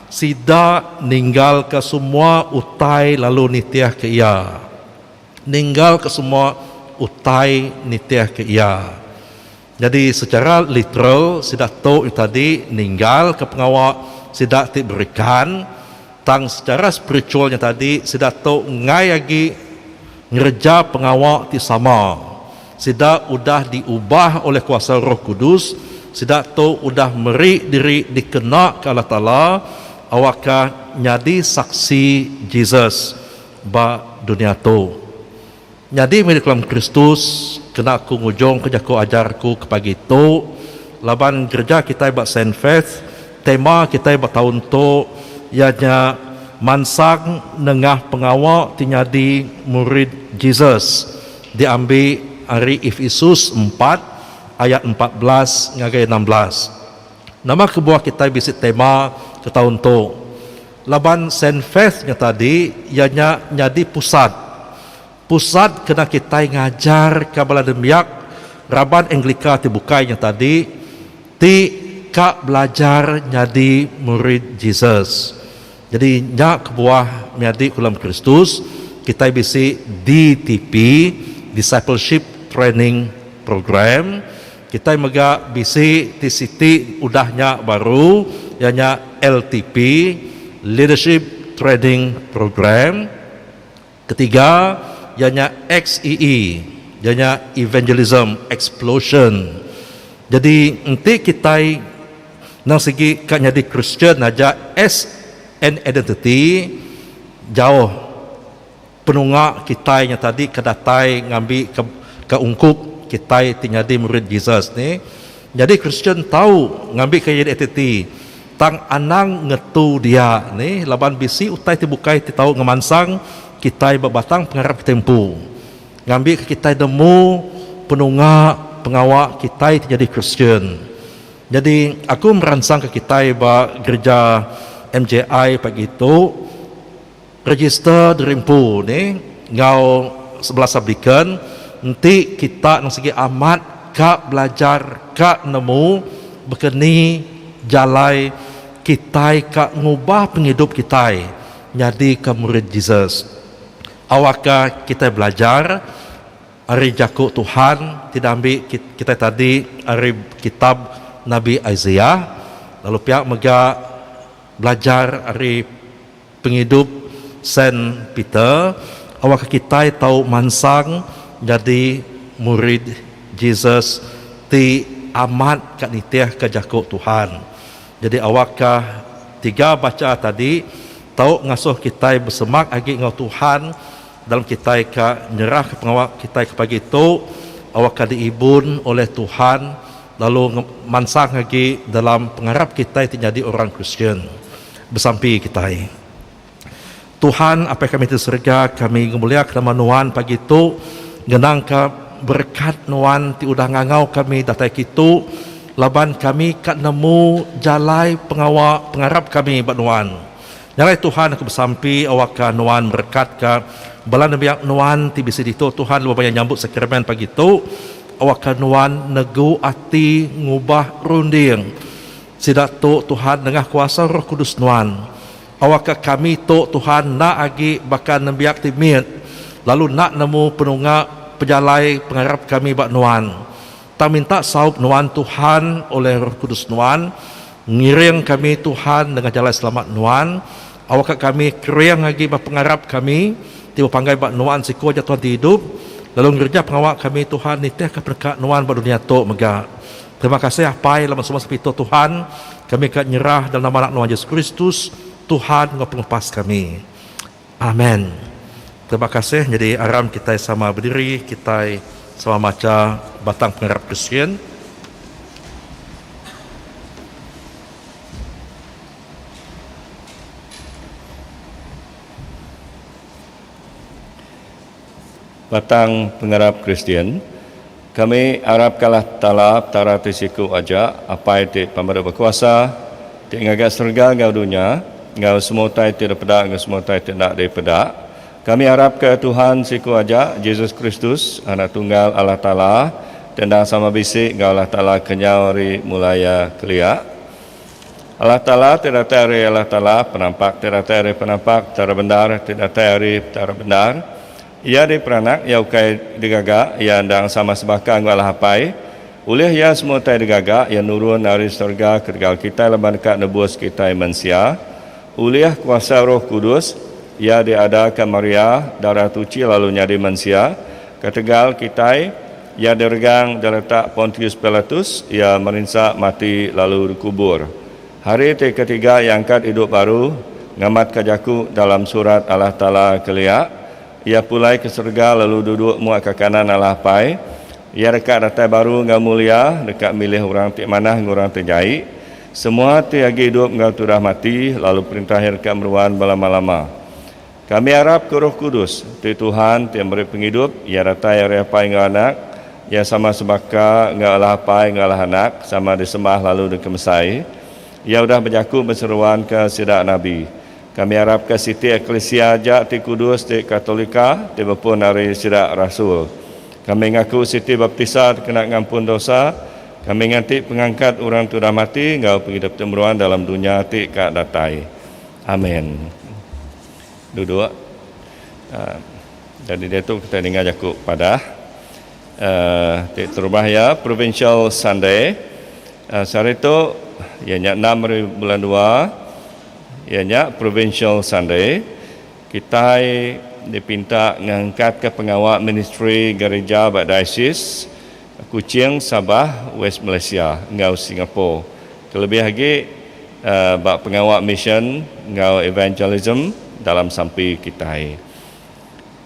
sida ninggalka semua utai lalu nitihka Iya. Ninggalka semua utai nitihka Iya. Nyadi sechara literal sida tu ita di ninggal ke pengawa sida ti berikan tang sechara spiritual nya tadi sida tu enggai agi ngereja pengawa ti sama. Sida udah di ubah oleh kuasa roh kudus, sida tu udah meri diri di kena ke Allah Taala awakka nyadi saksi Jesus ba dunia tu. Nyadi murid kelam Kristus kena aku ngujungka jaku ajar aku ke pagi tu laban gereja kitai ba Sainfest tema kitai ba taun tu iya nya Mansang Nengah Pengawa ti Nyadi Murid Jesus diambi ari Efisus empat ayat empat belas ngagai enam belas. Nama kebuah kitai bisi tema ke taun tu? Laban Sainfaith nya tadi iya nya nyadi pusat pusat kena kitai ngajar ka bala nembiak raban Anglika ti bukai nya tadi ti ka belajar nyadi murid Jesus. Jadi nya kebuah menyadi Kulam Kristus kitai bisi DTP, Discipleship Training Program. Kitai mega bisi ti siti udah nya baru iya nya LTP, Leadership Training Program. Ketiga iya nya XEE, iya nya Evangelism Explosion. Jadi enti kitai nang sigi ka nyadi Kristian aja as an identity jauh. Penunga kitai nya tadi ke datai ngambi ke ke ungkup kitai ti nyadi murid Jesus ne. Nyadi Kristian tau ngambika iya nyadi ati-ati tang anang ngetu dia ne laban bisi utai ti bukai ti tau ngemansang kitai ba batang pengarap kitai empu. Ngambika kitai nemu penunga pengawa kitai ti nyadi Kristian. Nyadi aku meransangka kitai ba gereja MJI pagi tu. Register diri empu ni enggau sebelas aplikan enti kita nang sigi amat ka belajar ka nemu baka ni jalai kitai ka ngubah pengidup kitai nyadika murid Jesus. Awakka kitai belajar ari jaku Tuhan ti diambi kitai tadi ari kitab Nabi Isaiah lalu pia mega belajar ari Pengidup Saint Peter awakka kitai tau mansang nyadi murid Jesus ti amat ka nitihka jaku Tuhan. Nyadi awakka tiga bacha tadi tau ngasuh kitai besemak agi enggau Tuhan dalam kitai ka nyerahka pengawa kitai ke pagi tu awakka diibun oleh Tuhan lalu mansang agi dalam pengarap kitai ti nyadi orang Kristian. Besampi kitai. Tuhan, Apai kami ti serega, kami ngemuliaka nama Nuan pagi tu ngenangka berekat Nuan ti udah ngangau kami datai kitu laban kami ka nemu jalai pengawa pengarap kami ba Nuan. Nya alai Tuhan, aku besampi awakka Nuan merekatka bala nembiak Nuan ti bisi ditu Tuhan lebuh maya nyambut Sakramen pagi tu. Awakka Nuan negu ati ngubah runding. Sida tu Tuhan nengah kuasa Roh Kudus Nuan. Awakka kami tu Tuhan enda agi baka nembiak ti mit, lalu enda nemu penunga pejalai pengarap kami ba Nuan. Tang minta saup Nuan Tuhan oleh Roh Kudus Nuan, ngiring kami Tuhan nengah jalai selamat Nuan, awakka kami kering agi ba pengarap kami ti bepanggai ba Nuan siko aja Tuhan ti idup, lalu ngereja pengawa kami Tuhan nitihka peneka Nuan ba dunia tu mega. Terima kasih Apai laban semua sepitau Tuhan, kami ka nyerah dalam nama Anak Nuan Yesus Kristus, Tuhan enggau Pengepas kami. Amen. Terima kasih nyadi aram kitai sama bediri, kitai sama macha batang pengarap Kristian. Batang pengarap Kristian, Kami arapkalah Taala Petara ti siku aja, Apai ti pemadu bekuasa, ti ngaga serega enggau dunya, enggau semua utai ti dipeda enggau semua utai ti enda dipeda. Kami arapka Tuhan siku aja, Jesus Kristus, Anak Tunggal Allah Taala, ti endang sama bisi enggau Allah Taala kenyau ari mula iya kelia. Allah Taala ti datai ari Allah Taala, penampak ti datai ari penampak, Petara bendar ti datai ari Petara bendar. Iya diperanak, Iya ukai digaga, Iya endang sama sebaka enggau Allah Apai. Ulih Iya semua utai digaga, Iya nurun ari serega ketegal kitai laban deka nebus kitai mensia. Ulih kuasa Roh Kudus, Iya diadaka Maria, Darah Tuchi lalu nyadi mensia ketegal kitai. Iya diregang diletak Pontius Pilatus, iya merinsa, mati, lalu dikubur. Hari ti ketiga iya angkat idup baru, ngamatka jaku dalam Surat Allah Taala kelia, Iya pulai ke serega lalu duduk mua ke kanan Allah Apai. Iya deka datai baru enggau mulia, deka milih orang ti manah enggau orang ti jai, semua ti agi idup enggau ti udah mati, lalu perintah iya deka meruan belama-lama. Kami arap ke Roh Kudus, tu Tuhan ti meri pengidup, iya datai ari Apai enggau Anak, iya sama sebaka enggau Allah Apai enggau Allah Anak, sama disembah lalu dikemesai. Iya udah bejaku beseruanka sida nabi. Kami arapka siti eklisia aja ti kudus ti katolika ti bepun ari sida rasul. Kami ngaku siti baptisa dikena ngampun dosa, kami nganti pengangkat orang ti udah mati enggau pengidup ti meruan dalam dunya ti ka datai. Amen. Duduk. Jadi diatu kitai ninga jaku padah ti terubah iya Provincial Sunday. Sehari tu iya nya enam ari bulan dua iya nya Provincial Sunday. Kitai dipinta ngangkatka pengawa ministri gerija ba Diocese Kuching, Sabah, West Malaysia enggau Singapore Kelebih agi ba pengawa misyen enggau evangelism dalam sampi kitai.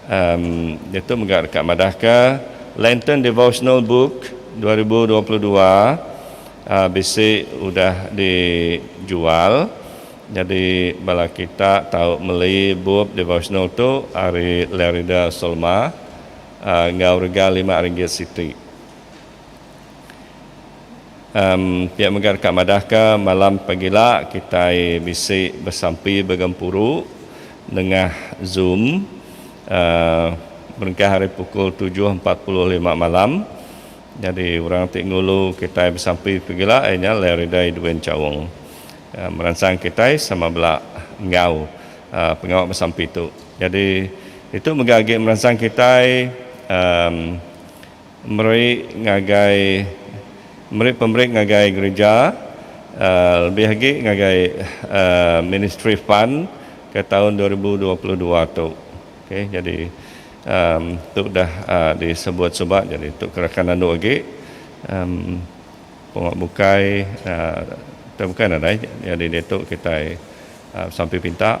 Em ditu mega deka madahka Lenten Devotional Book dua ribu dua puluh dua bisi udah dijual. Nyadi bala kita tau meli bup devotional tu ari Lerida Solma enggau rega lima ringgit siti. Em, pia mega deka madahka malam pagila kitai bisi besampi begempuru nengah zoom uhh berengkah ari pukul tujuh empat puluh lima malam. Nyadi orang ti ngulu kitai besampi pagila iya nya Leriday Dwin Chaung meransang kitai sama bela enggau uhh pengawa besampi tu. Nyadi ditu mega agi meransang kitai uhh. Meri ngagai meri pemeri ngagai gereja lebih agi ngagai ministry fund ke taun dua ribu dua puluh dua tu ok jadi tu dah disebut suba jadi tu ke rakan andu agi pengua bukai bukai nadai jadi diatu kitai besampi pinta.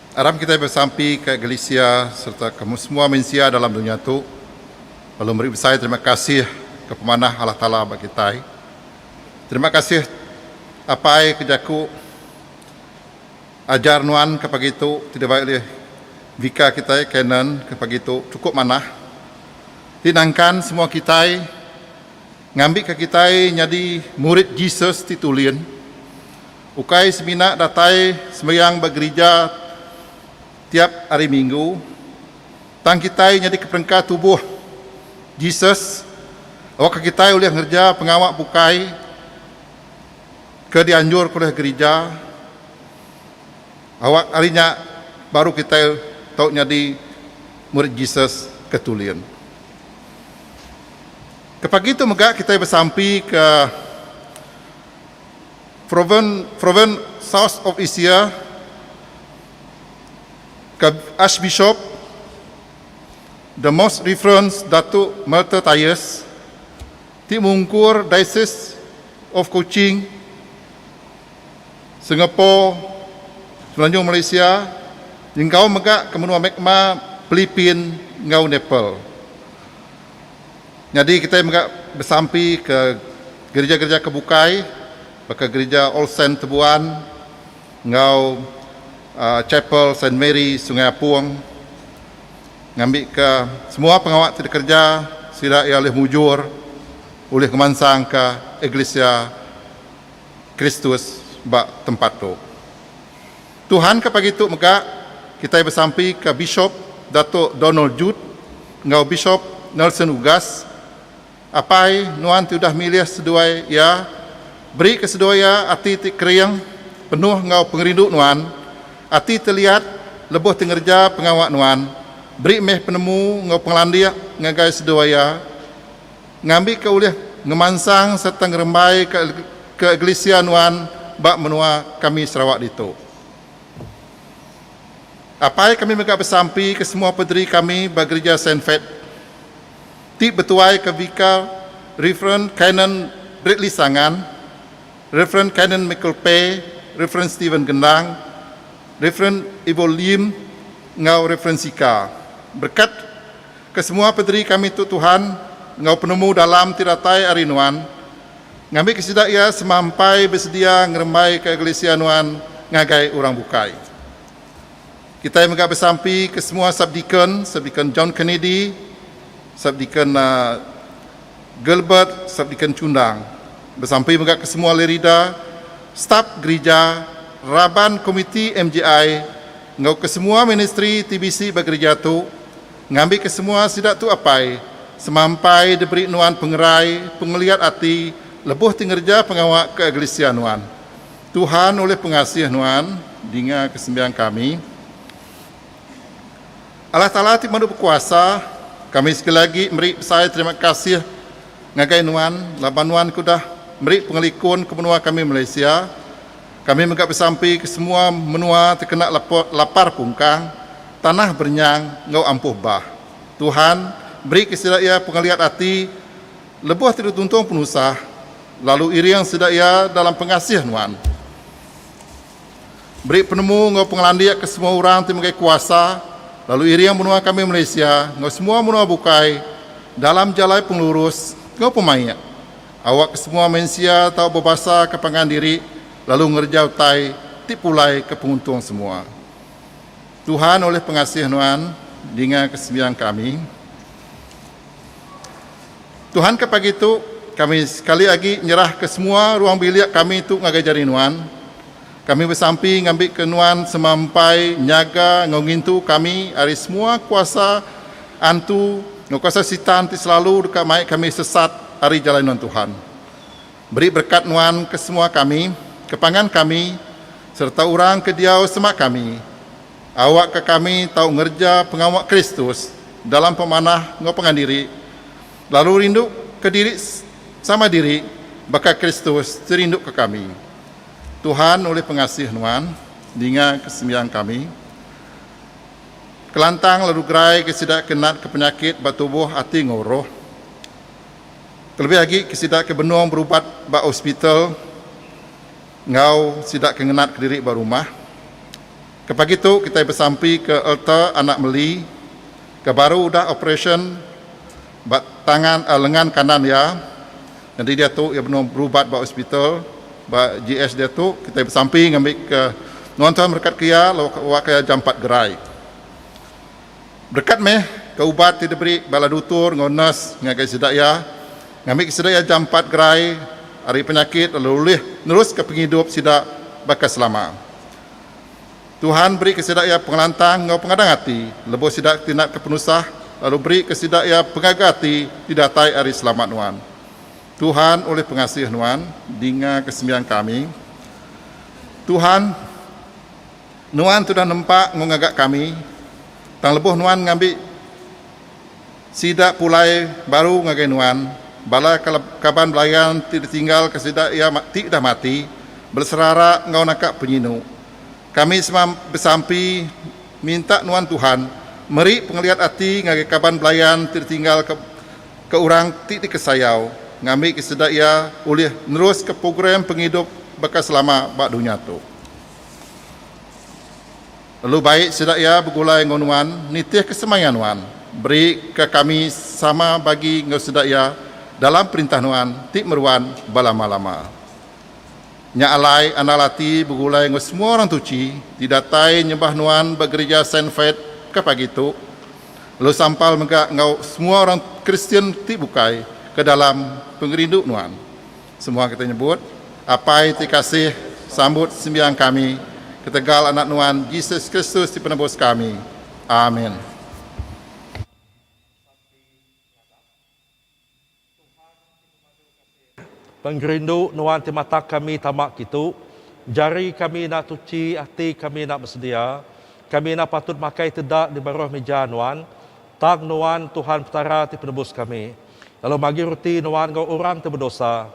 Aram kitai besampi ka Galesia sereta ke semua mensia dalam dunya tu perlu meri besai terima kasih ke pemanah Allah Taala ba kitai. Terima kasih Apai ke jaku ajar nuan ke pagi tu ti debei ulih bika kitai Canon ke pagi tu chukup manah ti nangkan semua kitai Ngambika kitai nyadi murid Jesus ti tulin, ukai semina datai sembayang ba gerija tiap Hari Minggu, tang kitai nyadika perengka tubuh Jesus awakka kitai ulih ngereja pengawa bukai ke dianjurka ulih gerija. Awak ari nya baru kitai tau nyadi murid Jesus ke tulin. Ke pagi tu mega kitai besampi ke Province South of Asia ke Archbishop The Most Reference Datu Melter Tyers ti mungkur Diocese of Kuching, Singapore, Semenanjung Malaysia nyengkaum mega ke menua Myanmar, Philippines enggau Nepal. Nyadi kitai mega besampi ke gerija-gerija ke bukai baka Gerija All Saint Tebuan enggau Chapel Saint Mary Sungai Apung ngambika semua pengawa ti dikereja sida iya ulih mujur ulih ngemansangka Eglisia Kristus ba tempat tu. Tuhan ke pagi tu mega kitai besampi ke Bishop Datuk Donald Jude enggau Bishop Nelson Ugas apai nuan ti udah milih seduai iya beri ke seduai iya ati ti kering penuh enggau pengerindu nuan ati ti liat lebuh ti ngereja pengawa nuan beri meh penemu enggau pengelandik ngagai seduai iya ngambika ulih ngemansang sereta ngerembaika kegelisia nuan ba menua kami Sarawak ditu. Apai kami mega besampi ke semua pederi kami ba Gerija Saint Fate ti betuaika Vikar Reverend Canon Bradley Sangan, Reverend Canon Michael Pay, Reverend Stephen Gendang, Reverend Ivo Lim enggau Reverend Sika berkat Kesemua pederi kami tu Tuhan enggau penemu dalam ti datai ari Nuan. Ngambika sida iya semampai besedia ngerembaika eklisia Nuan ngagai orang bukai. Kitai mega besampi ke semua Subdeacon, Subdeacon John Kennedy, Subdeacon Gilbert, Subdeacon Chundang. Besampi mega ke semua lerida, stap gerija, raban komiti MJI, enggau kesemua ministri ti bisi ba gerija tu ngambi kesemua sida tu apai semampai diberi nuan pengerai pengeliat ati lebuh ti ngereja pengawa ke eglisia nuan. Tuhan ulih pengasih nuan dinga ke sembiang kami. Allah Taala ti madu bekuasa, kami sekali agi meri besai terima kasih ngagai nuan laban nuan ke udah meri pengelikun ke menua kami Malaysia Kami mega besampi ke semua menua tekena lapar pungkang, tanah berenyang enggau ampuh bah. Tuhan meri ke sida iya pengeliat ati lebuh ti dituntung penusah, lalu iring sida iya dalam pengasih nuan. Meri penemu enggau pengelandik ke semua orang ti megai kuasa, lalu iring menua kami Malaysia enggau semua menua bukai dalam jalai pengelurus enggau pemaik. Awak kesemua mensia tau bebasa ke pangan diri lalu ngereja utai ti pulai ke penguntung semua. Tuhan ulih pengasih nuan ninga ke sembiang kami. Tuhan ke pagi tu kami sekali agi nyerah ke semua ruang bilik kami tu ngagai jari nuan. Kami besampi ngambika nuan sema empai nyaga enggau ngintu kami ari semua kuasa antu enggau kuasa Sitan ti selalu deka mai kami sesat ari jalai nuan Tuhan. Beri berekat nuan ke semua kami, ke pangan kami sereta orang ke diau sema kami. Awakka kami tau ngereja pengawa Kristus dalam pemanah enggau pangan diri, lalu rinduka diri sama diri baka Kristus ti rinduka kami. Tuhan ulih pengasih nuan, ninga ke sembiang kami. Kelantang lalu gerai ke sida ke nat ke penyakit ba tubuh ati enggau roh. Kelebih agi ke sida ke benung berubat ba hospital enggau sida ke ngenat ke diri ba rumah. Ke pagi tu kitai besampi ke altar anak meli ke baru udah operasyen. Ba tangan lengan kanan iya, nyadi diatu iya benung berubat ba hospital ba GH diatu kitai besampi ngambika nuan Tuhan berekatka iya lalu awakka iya jampat gerai. Berkat meh ke ubat ti diberi bala dutur enggau nurse ngagai sida iya ngambika sida iya jampat gerai ari penyakit lalu ulih neruska pengidup sida baka selama. Tuhan berika sida iya pengelantang enggau pengadang ati lebuh sida ti natka penusah, lalu berika sida iya pengaga ati ti datai ari selamat nuan. Tuhan ulih pengasih nuan, dingaka sembiang kami. Tuhan, Nuan tudah nempa enggau ngaga kami, tang lebuh Nuan ngambi. Sida pulai baru ngagai nuan, bala kaban belayan ti ditinggalka sida iya ti dah mati, beserara enggau naka penyinu. Kami sema besampi minta nuan Tuhan meri pengeliat ati ngagai kaban belayan ti ditinggalka ke orang ti dikesayau, ngambika sida iya ulih neruska program pengidup baka selama ba dunya tu. Lalu baik sida iya begulai enggau nuan, nitihka semaya nuan, berika kami sama bagi enggau sida iya dalam perintah nuan ti meruan belama-lama. Nya alai andal ati begulai enggau semua orang tuchi ti datai nyembah nuan ba gerija Saint Faith ke pagi tu, lalu sampal mega enggau semua orang Kristian ti bukai ke dalam pengerindu nuan. Semua kita nyebut, Apai ti kasih, sambut sembiang kami ketegal Anak Nuan, Jesus Kristus ti Penebus kami. Amin. Pengerindu Nuan ti matak kami tama kitu. Jari kami enda tuchi, ati kami enda besedia. Kami enda patut makai teda di baruh mija Nuan. Tang Nuan, Tuhan Petara ti Penebus kami. Lalu bagi roti nuan enggau orang ti bedosa.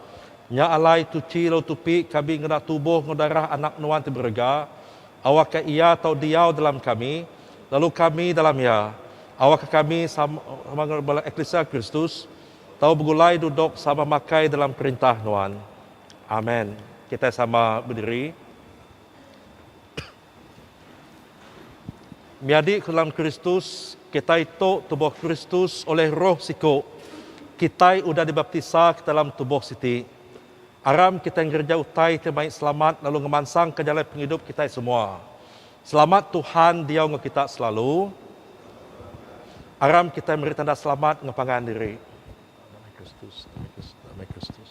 Nya alai tuchi lalu tupi kabi ngena tubuh enggau darah Anak nuan ti berega. Awakka Iya tau diau dalam kami, lalu kami dalam Iya. Awakka kami sama enggau bala eklisia Kristus tau begulai duduk sama makai dalam perintah nuan. Amen. Kitai sama bediri. Nyadi ke dalam Kristus, kitai tu tubuh Kristus oleh Roh siku. Kitai udah dibaptisa ke dalam tubuh siti. Aram kitai ngereja utai ti mai selamat lalu ngemansangka jalai pengidup kitai semua. Selamat Tuhan diau enggau kita selalu. Aram kitai meri tanda selamat enggau pangan diri. Damai Kristus, damai Kristus, damai Kristus.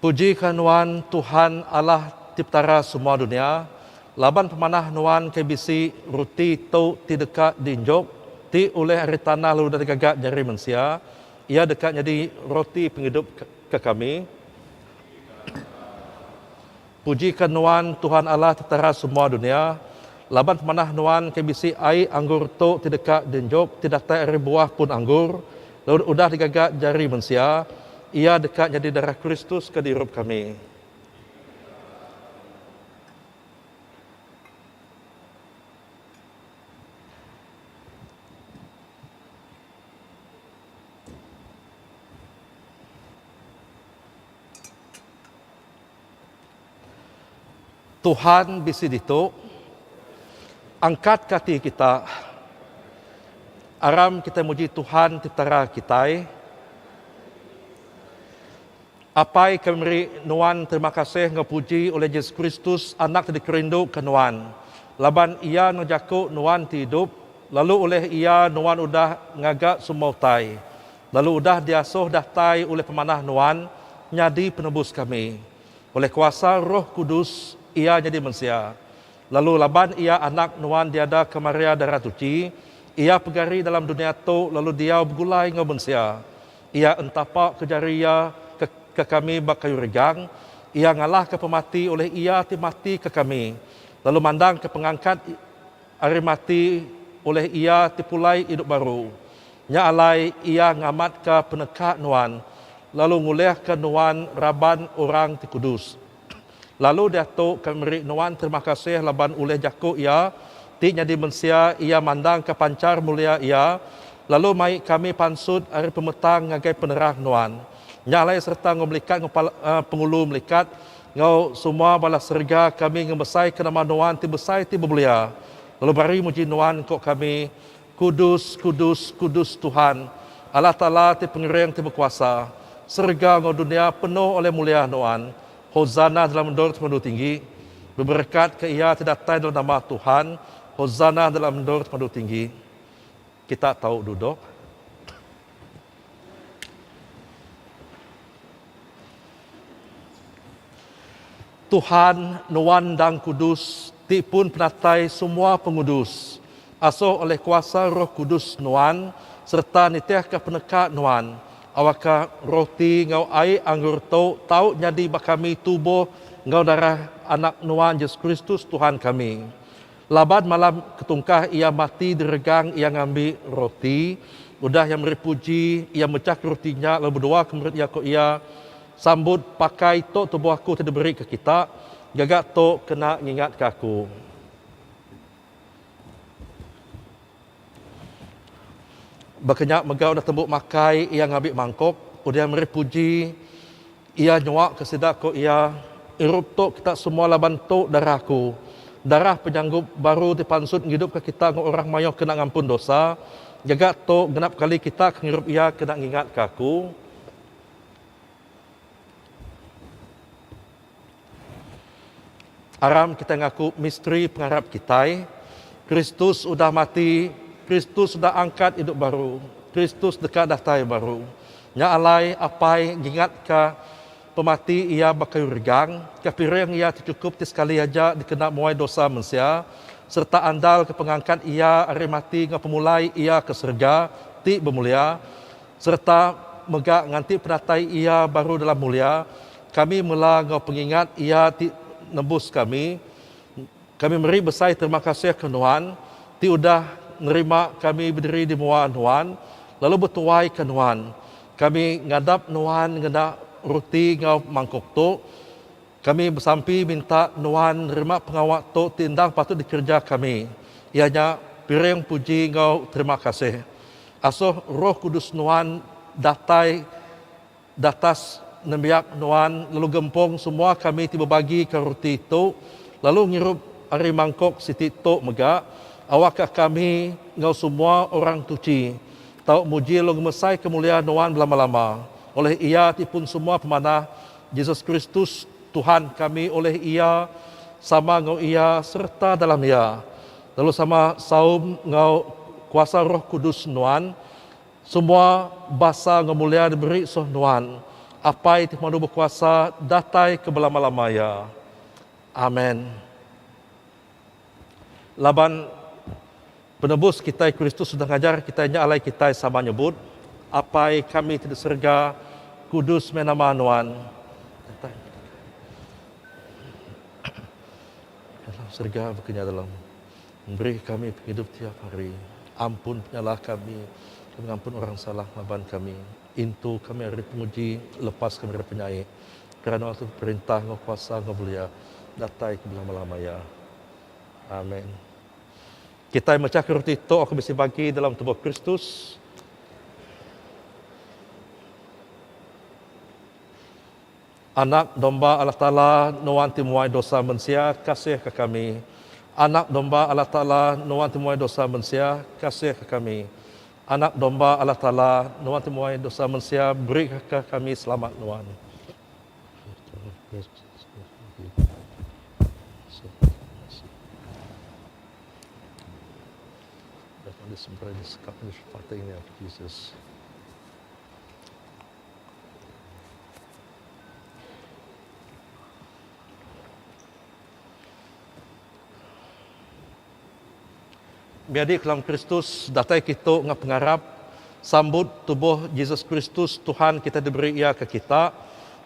Pujika nuan Tuhan Allah ti Petara semua dunia, laban pemanah nuan ke bisi ruti tu ti deka diinjuk, ti ulih ari tanah lalu udah digaga jari mensia, iya deka nyadi ruti pengidup ke kami. Pujika Nuan, Tuhan Allah Petara semua dunia, laban pemanah Nuan ke bisi ai anggur tu ti deka dinjuk ti datai ari buah pun anggur, lalu udah digaga jari mensia, iya deka nyadi darah Kristus ke diirup kami. Tuhan bisi ditu. Angkat ke ati kita. Aram kitai muji Tuhan ti tera kitai. Apai kami meri nuan terima kasih enggau puji oleh Jesus Kristus anak ti dikerindu ke nuan. Laban iya enggau jaku nuan ti idup lalu oleh iya nuan udah ngaga semua utai. Lalu udah diasuh datai ulih pemanah Nuan nyadi Penebus kami. Ulih kuasa Roh Kudus, Iya nyadi mensia. Lalu laban Iya Anak Nuan diada ke Maria Darah Tuchi, Iya pegari dalam dunia tu lalu diau begulai enggau mensia. Iya entapa ke jari Iya ke ke kami ba kayu regang, Iya ngalahka pemati ulih Iya ti mati ke kami, lalu mandangka pengangkat. Ari mati, ulih Iya ti pulai idup baru. Nya alai, Iya ngamatka peneka nuan, lalu ngulihka nuan raban orang ti kudus. Lalu diatu ke meri nuan terima kasih laban ulih jaku Iya ti nyadi mensia Iya mandangka panchar mulia Iya, lalu mai kami pansut ari pemetang ngagai penerang nuan. Nya alai sereta enggau melikat enggau pengulu melikat Enggau semua bala serega kami ngemesaika nama Nuan ti besai ti bemulia, lalu bari muji Nuan engku kami, Kudus, kudus, kudus Tuhan, Allah Taala ti Pengering ti Bekuasa, serega enggau dunia penuh oleh mulia Nuan, Hosana dalam endor ti pemandu tinggi. Beberekatka Iya ti datai dalam nama Tuhan, Hosana dalam endor ti pemandu tinggi. Kita tau dudok. Tuhan, nuan endang kudus, ti pun penatai semua pengudus. Asoh oleh kuasa roh kudus nuan, sereta nitihka peneka nuan, awakka roti enggau ai anggur tu tau nyadi ba kami tubuh enggau darah Anak nuan, Jesus Kristus Tuhan kami. Laban malam ke tungkah iya mati diregang iya ngambi roti. Udah iya meri puji, iya mechaka roti nya lalu beduaka murid iya ku iya, Sambut, pakai tu tubuh aku ti diberika kita. Gaga tu kena ngingatka aku. Baka nya mega udah tembu makai iya ngambi mangkuk, udah meri puji iya nyuaka sida ku iya, Irup tu kita semua laban tu darah aku, darah penyanggup baru dipansut ngidupka kita enggau orang mayuh kena ngampun dosa, gaga tu genap kali kita ke ngirup iya kena ngingatka aku. Aram kitai ngaku misteri pengarap kitai, Kristus udah mati, Kristus udah angkat idup baru, Kristus deka datai baru. Nya alai, Apai ngingatka pemati iya ba kayu regang, kepiring iya ti chukup ti sekali aja dikena muai dosa mensia, sereta andal ke pengangkat iya ari mati enggau pemulai iya ke serega ti bemulia, sereta mega nganti penatai iya baru dalam mulia, Kami mela enggau pengingat Iya ti nebus kami. Kami meri besai terima kasih ke Nuan, ti udah nerima kami bediri di mua Nuan, lalu betuai ke Nuan. Kami ngadap Nuan ngena ruti enggau mangkuk tu. Kami besampi minta Nuan nerima pengawa tu ti endang patut dikereja kami, iya nya piring puji enggau terima kasih. Asuh Roh Kudus Nuan datai. Datas nembiak nuan lalu gempung semua kami ti bebagika ruti tu lalu ngirup ari mangkuk siti tu mega, awakka kami enggau semua orang tuchi tau muji lalu ngemesaika mulia nuan belama-lama oleh Iya ti pun semua pemanah, Jesus Kristus, Tuhan kami oleh Iya, sama enggau Iya sereta dalam Iya, lalu sama saum enggau kuasa Roh Kudus nuan, Semua basa enggau mulia diberi soh Nuan, Apai ti pemadu bekuasa datai ke belama-lama iya. Amen. Laban Penebus kitai Kristus udah ngajar kitai nya alai kitai sama nyebut, Apai kami ti di serega, kudus meh nama Nuan. Datai Kerajaan Nuan. Dalam serega baka nya dalam. Beri kami pengidup tiap hari. Ampun penyalah kami, kami ngampun orang salah laban kami. Intu kami ari penguji, lepas kami ari penyai. Kerana Tuhan perintah enggau kuasa enggau mulia, datai ke belama-lama iya. Amen. Kitai mechaka roti tu aku bisi bagi dalam tubuh Kristus. Anak Domba Allah Taala, nuan ti muai dosa mensia, kasihka kami. Anak Domba Allah Taala, nuan ti muai dosa mensia, kasihka kami. Anak Domba Allah Taala, nuan ti muai dosa mensia, berika kami selamat nuan. Menyadi kelang Kristus datai kitu enggau pengarap sambut tubuh Jesus Kristus Tuhan kita diberi iya ke kita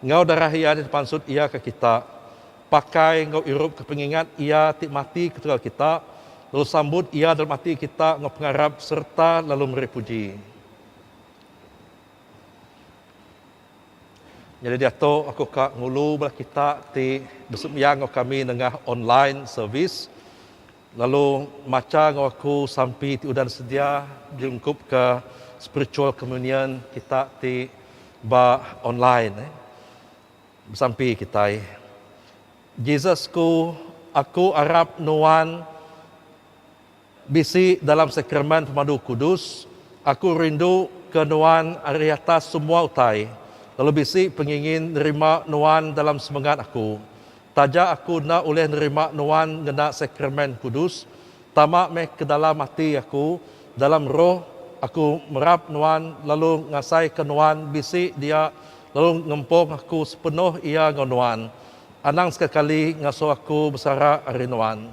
enggau darah iya ti dipansut iya ke kita. Pakai enggau irup ke pengingat iya ti mati ketegal kita lalu sambut iya dalam ati kita enggau pengarap sereta lalu meri puji. Nyadi diatu aku ka ngulu bala kita ti besembiang enggau kami nengah online service lalu macha enggau aku sampi ti udah disedia diungkup ka spiritual communion kita ti ba online eh besampi kitai. Jesus ku aku arap nuan. Bisi dalam Sakramen Pemadu Kudus, aku rindu ke Nuan ari atas semua utai, lalu bisi pengingin nerima Nuan dalam semengat aku. Taja aku enda ulih nerima Nuan ngena Sakramen Kudus, tama meh ke dalam ati aku, dalam roh, aku merap Nuan lalu ngasaika Nuan bisi dia lalu ngempung aku sepenuh iya enggau Nuan. Anang sekakali ngasuh aku besara ari Nuan.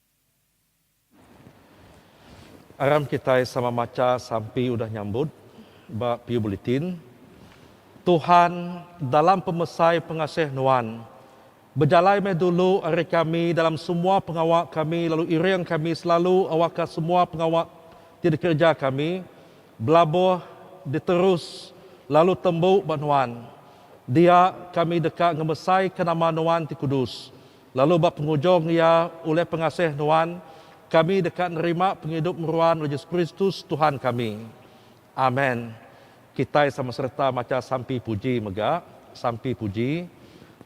Aram kitai sama macha sampi udah nyambut ba Piu Bulletin, Tuhan dalam pemesai pengasih Nuan, bejalai meh dulu ari kami dalam semua pengawa kami lalu iring kami selalu awakka semua pengawa ti dikereja kami belabuh diterus lalu tembu ba Nuan. Dia kami deka ngemesaika nama Nuan ti kudus. Lalu ba pengujung iya, Oleh pengasih Nuan, kami deka nerima pengidup meruan Yesus Kristus, Tuhan kami. Amen. Kitai sama sereta macha sampi puji mega. Sampi puji.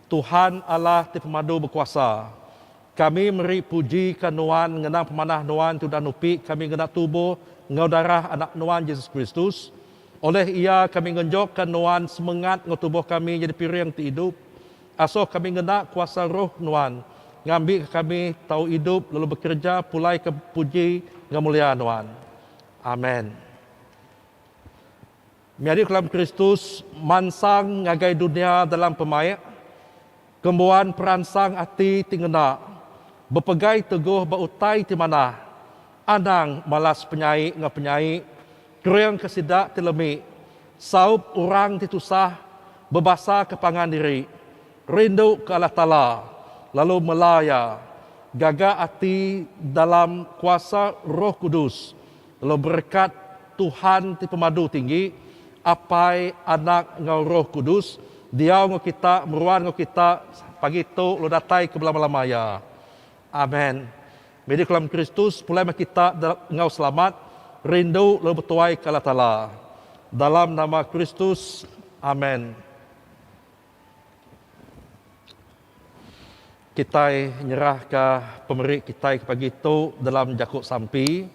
Tuhan Allah ti pemadu bekuasa, kami meri puji ka Nuan ngenang pemanah Nuan ti udah nupi kami ngena tubuh enggau darah Anak Nuan Yesus Kristus. Oleh iya kami ngenjok ka Nuan semengat enggau tubuh kami nyadi piring ti idup. Asoh kami ngena kuasa roh Nuan ngambika kami tau idup lalu bekereja pulaika puji enggau mulia Nuan. Amen. Menyadi ke dalam Kristus, mansang ngagai dunya dalam pemaik, kembuan peransang ati ti ngena, bepegai teguh ba utai ti manah, anang malas penyai enggau penyai, Kering ke sida ti lemi, saup orang ti tusah, bebasa ke pangan diri, rindu ke Allah Taala, lalu mela Iya, gaga ati dalam kuasa Roh Kudus, lalu berekat Tuhan ti Pemadu Tinggi, Apai, Anak, enggau Roh Kudus, diau enggau kita, meruan enggau kita pagi tu lalu datai ke belama-lama iya. Amen. Meda kelam Kristus pulai meh kita enggau selamat, rindu lalu betuai ke Allah Taala. Dalam nama Kristus. Amen. Kitai nyerah ka pemeri kitai ke pagi tu dalam jaku sampi.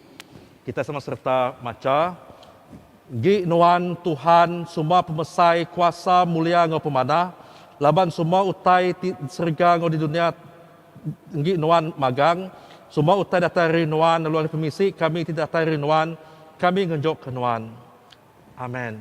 Kitai sama serta macha, Gi nuan Tuhan suma pemesai kuasa mulia enggau pemanah laban suma utai ti di serega enggau di dunia. Enggi nuan magang, semua utai datai ari nuan lalu ari pemisi kami ti datai ari nuan, kami ngenjokka nuan. Amen.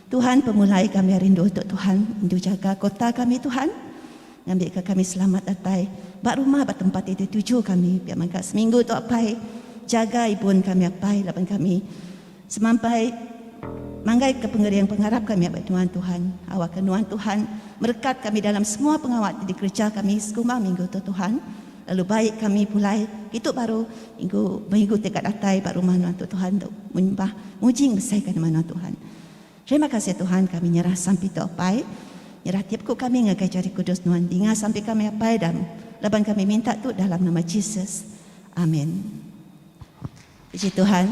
Tuhan pemulai kami rindu tu Tuhan indu jaga kota kami Tuhan ngambi ka kami selamat datai ba rumah ba tempat ti dituju kami pia mega seminggu tu apai jaga ibun kami apai laban kami semampai manggai ka pengering pengarap kami ba nuan Tuhan awak ka nuan Tuhan merekat kami dalam semua pengawa ti dikereja kami sekumbang minggu tu Tuhan. Lalu bai kami pulai ditu baru minggu minggu ti ka datai ba rumah nuan tu Tuhan tu menyembah muji ngebesaika nama nuan Tuhan. Terima kasih Tuhan kami nyerah sampi tu apai nyerah tiap ku kami ngagai jari kudus nuan dinga sampi kami apai dan laban kami minta tu dalam nama Jesus. Amin. Puji Tuhan.